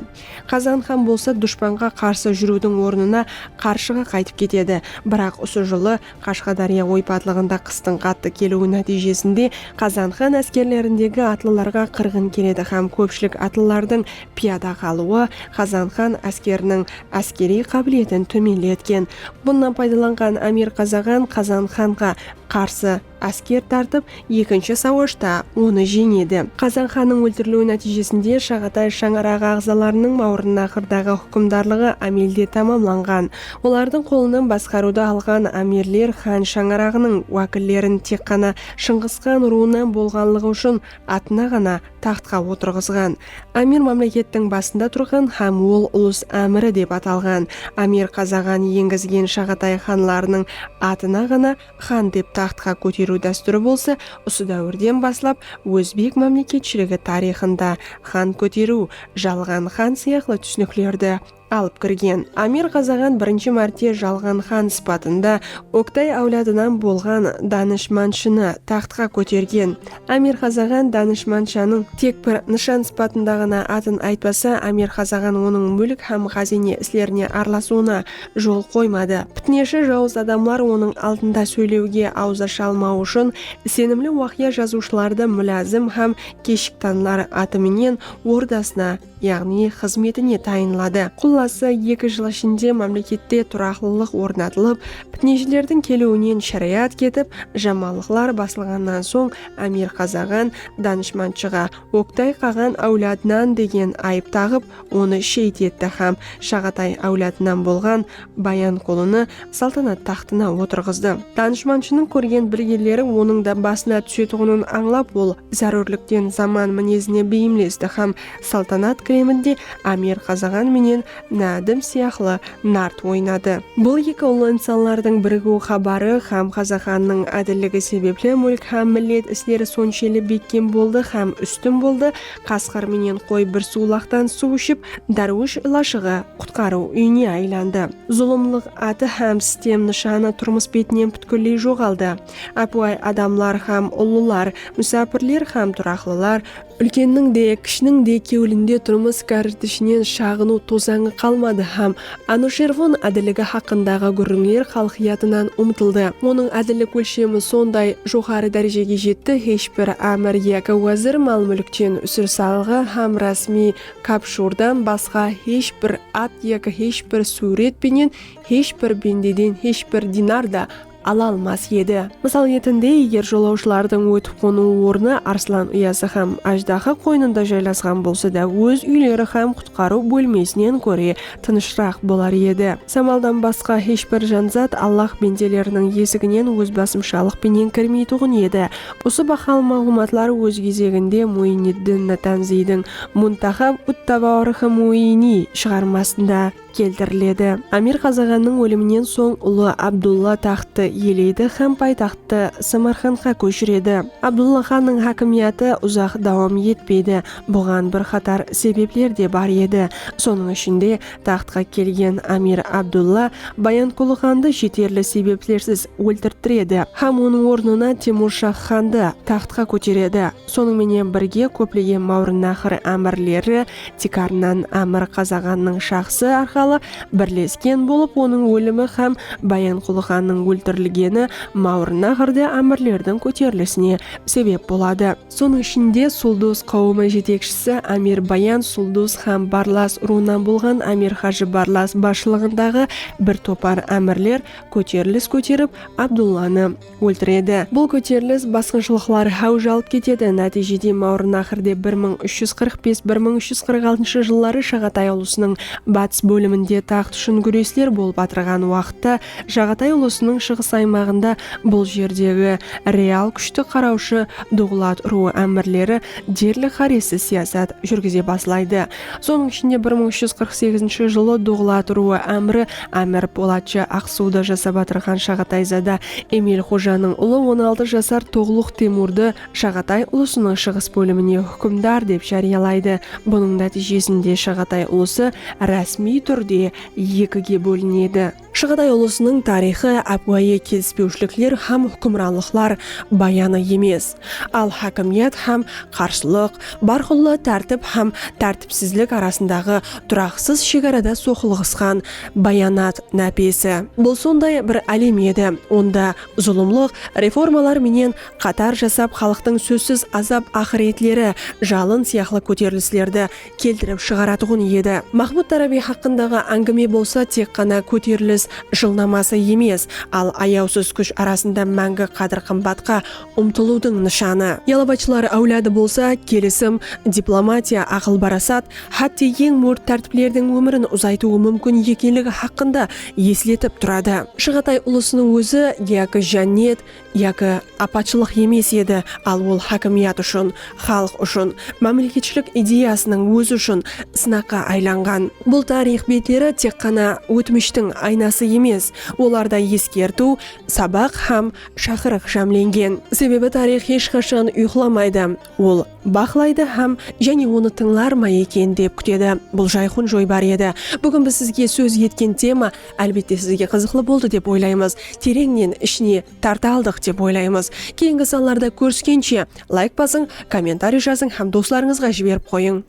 Qazaǵan xan bolsa dushpanǵa qarsı júriwdiń ornına qarshıǵa qaytıp ketedi. Biraq usı jılı Qashqadárya oypadlıǵında qıstıń qattı keliwi nátiyjesinde Qazanxan áskerlerindegi atlılarǵa qırǵın keledi hám kópshilik atlılardıń piyada qalıwı Qazanxan áskeriniń áskeriy qábiletin tómenletken. Bunnan paydalanǵan Amir Qazaǵan Qazanxanǵa qarsı ásker tartıp, Ekinshi sawashta onı jeńedi. Qazan xannıń óltiriliwi nátiyjesinde Shaǵatay shańaraǵı aǵzalarınıń Mawrınnaxırdaǵı húkimdarlıǵı ámelde tamamlanǵan. Olardıń qolınan basqarıwdı alǵan ámirler xan shańaraǵınıń wákillerin tek ǵana Shıńǵıs xan ruwınan bolǵanlıǵı ushın atına ǵana taxtqa otırǵızǵan. Ámir mámlekettiń basında turǵan hám ol ulus ámiri dep atalǵan. Ámir Qazaǵan engizgen Shaǵatay xanlarınıń atına ǵana Xan dep taxtqa kóteriw dástúri bolsa usı dáwirden baslap ózbek mámleketshiligi tariyxında xan kóteriw, jalǵan xan sıyaqlı túsiniklerdi alıp kirgen. Amir Ǵazaǵan birinshi márte jalǵan xan sıpatında Oktay áwladınan bolǵan danıshmanshını taxtqa kótergen, Amir Xazaǵan danıshmanshanıń tek bir nıshan sıpatında ǵana atın aytpasa, Amir Xazaǵan onıń múlk hám xazine islerine aralasıwına jol qoymadı. Pitneshi jawız adamlar onıń aldında sóylewge awız asha almawı ushın isenimli waqıya jazıwshılardı múlazım hám keshik tanlar atı menen ordasına yaǵnıy xızmetine tayınladı. Qullası, eki jıl ishinde mámlekette turaqlılıq ornatılıp, pitneshilerdiń keliwinen sharayat ketip, jamanlıqlar basılǵannan soń ámir qazaǵan, danıshmanshıǵa, Oktay qaǵan áwladınan degen ayıp taǵıp, onı sheyit etti hám Shaǵatay áwladınan bolǵan Bayanqulını saltanat taxtına otırǵızdı. Danıshmanshınıń kórgen bilgeleri onıń da basına túsetuǵının ańlap, ol zárúrlikten zaman minezine beyimlesti hám saltanat kireminde Ámir Qazaǵan menen Nádim sıyaqlı nart oynadı. Bul eki ullı insanlardıń birigiw xabarı hám Qazaǵannıń ádilligi sebepli múlk hám millet isleri sonshelli bekkem boldı hám ústin boldı, Qasqır menen qoy bir suwlaqtan suw iship, dárwish ilashıǵı, qutqarıw, úyine aylandı. Zulımlıq atı hám sitem nıshanı turmıs betinen pútkilley joǵaldı. Ápiwayı adamlar hám ullılar, músápirler hám turaqlılar, úlkenniń de, kishiniń de kewlinde turmıs kárritishinen shaǵınıw tozańı qalmadı hám Anushervon ádilligi haqqındaǵı gúrrińler xalıqyatınan umtıldı. Onıń ádillik ólshemi sonday joqarı dárejege jetti, hesh bir ámir yaki wázir mal-múlkten, úsir salıǵı hám rásmiy kapshurdan basqa hesh bir at yaki hesh bir súwret penen, hesh bir bendeden hesh bir dinar da ala almas edi. Mısal retinde, eger jolawshılardıń ótip-qonıw ornı arslan uyası hám ájdaha qoynında jaylasqan bolsa da óz úyleri hám qutqarıw bólmesinen góre tınıshraq bolar edi. Samaldan basqa hesh bir janzat Allah bendeleriniń esiginen ózbasımshalıq penen kirmeytuǵın edi. Usı bahalı maǵlıwmatlar óz gezeginde Muiniddin Natanziydiń Muntaxab ut-Tawaarixi Muiiniy shıǵarmasında. keltiriledi. Amir Qazaǵannıń óliminen soń ulı Abdulla taxttı iyeleydi hám paytaxttı Samarqandqa kóshiredi. Abdulla xannıń hákimiyatı uzaq dawam etpeydi. Buǵan bir qatar sebepler de bar edi. Sonıń ishinde, taxtqa kelgen Amir Abdulla Bayanqulı xandı jeterli sebeplersiz óltirttiredi hám onıń ornına Temurshah xandı taxtqa kóteredi. Sonıń menen birge kóplegen máwrınnahır ámirleri tiykarınan Ámir Qazaǵannıń shaxsı arqalı birlesken bolıp onıń ólimi hám Bayanqulı xannıń óltirilgeni máwrınnahırda ámirlerdiń kóterilisine sebep boladı. Sonıń ishinde Suldus qáwimi jetekshisi Ámir Bayan Suldus hám Barlas urıwınan bolǵan Ámir Hajı Barlas basshılıǵındaǵı bir topar ámirler kóterilis kóterip Abdullanı, Óltiredi. Bul kóterilis basqınshılıqlar háwij alıp ketedi. Nátiyjede Máwrınaqırde bir mıń úsh júz qırq bes, bir mıń úsh júz qırq altınshı jılları Shaǵatay ulısınıń batıs bóliminde taxt ushın gúresler bolıp atırǵan waqıtta Shaǵatay ulısınıń shıǵıs aymaǵında bul jerdegi real kúshti qaraushı Duǵlat ruwı ámirleri derli qárezsiz siyasat júrgize baslaydı. Sonıń ishinde bir mıń úsh júz qırq segizinshi jılı Duǵlat ruwı ámiri Ámir Polatshı Aqsuwda jasap atırǵan Shaǵatayzada Emil xojanıń ulı on altı jasar Toǵluq Temurdı Shaǵatay ulısınıń shıǵıs bólimine húkimdar dep járiyalaydı. Bunıń nátiyjesinde Shaǵatay ulısı rásmiy túrde ekige bólinedi. Shaǵatay ulısınıń tariyxı ápiwayı kelispewshilikler hám húkimranlıqlar bayanı emes, al hákimiyat hám qarshılıq, bárqulla tártip hám tártipsizlik arasındaǵı turaqsız shegarada soqılıǵısqan bayanat nápesi. Bul sonday bir álem edi, onda zulımlıq reformalar menen qatar jasap xalıqtıń sózsiz azap-aqıretleri, jalın sıyaqlı kóterilislerdi keltirip shıǵaratuǵın edi. Maxmud Tarabiy haqqındaǵı áńgime bolsa tek ǵana kóterilis jılnaması emes, al ayawsız kúsh arasında máńgi qádir-qımbatqa umtılıwdıń nıshanı. Yalovachlar áwladı bolsa kelisim, diplomatiya, aqıl-parasat, hátte eń mórt tártiplerdiń ómirin uzaytıwı múmkin ekenligi haqqında esletip turadı. Shıǵatay ulısınıń ózi Gyakiy Jannet, Yaki apatshılıq emes edi, al ol hákimiyat ushın, xalıq ushın, mámleketshilik ideyasınıń ózi ushın sınaqqa aylanǵan. Bul tariyx betleri tek ǵana ótmishtiń aynası emes, olarda eskertiw, sabaq hám shaqırıq jámlengen. Sebebi tariyx hesh qashan uyqılamaydı, ol. baqlaydı hám jáne onı tıńlar ma eken dep kútedi. Bul jayqun joybar edi. Búgin biz sizge sóz etken tema álbette sizge qızıqlı boldı dep oylaymız, tereńnen ishine tarta aldıq dep oylaymız. Keyingi sanlarda kóriskenshe, layk basıń, kommentariy jazıń hám doslarıńızǵa jiberip qoyıń.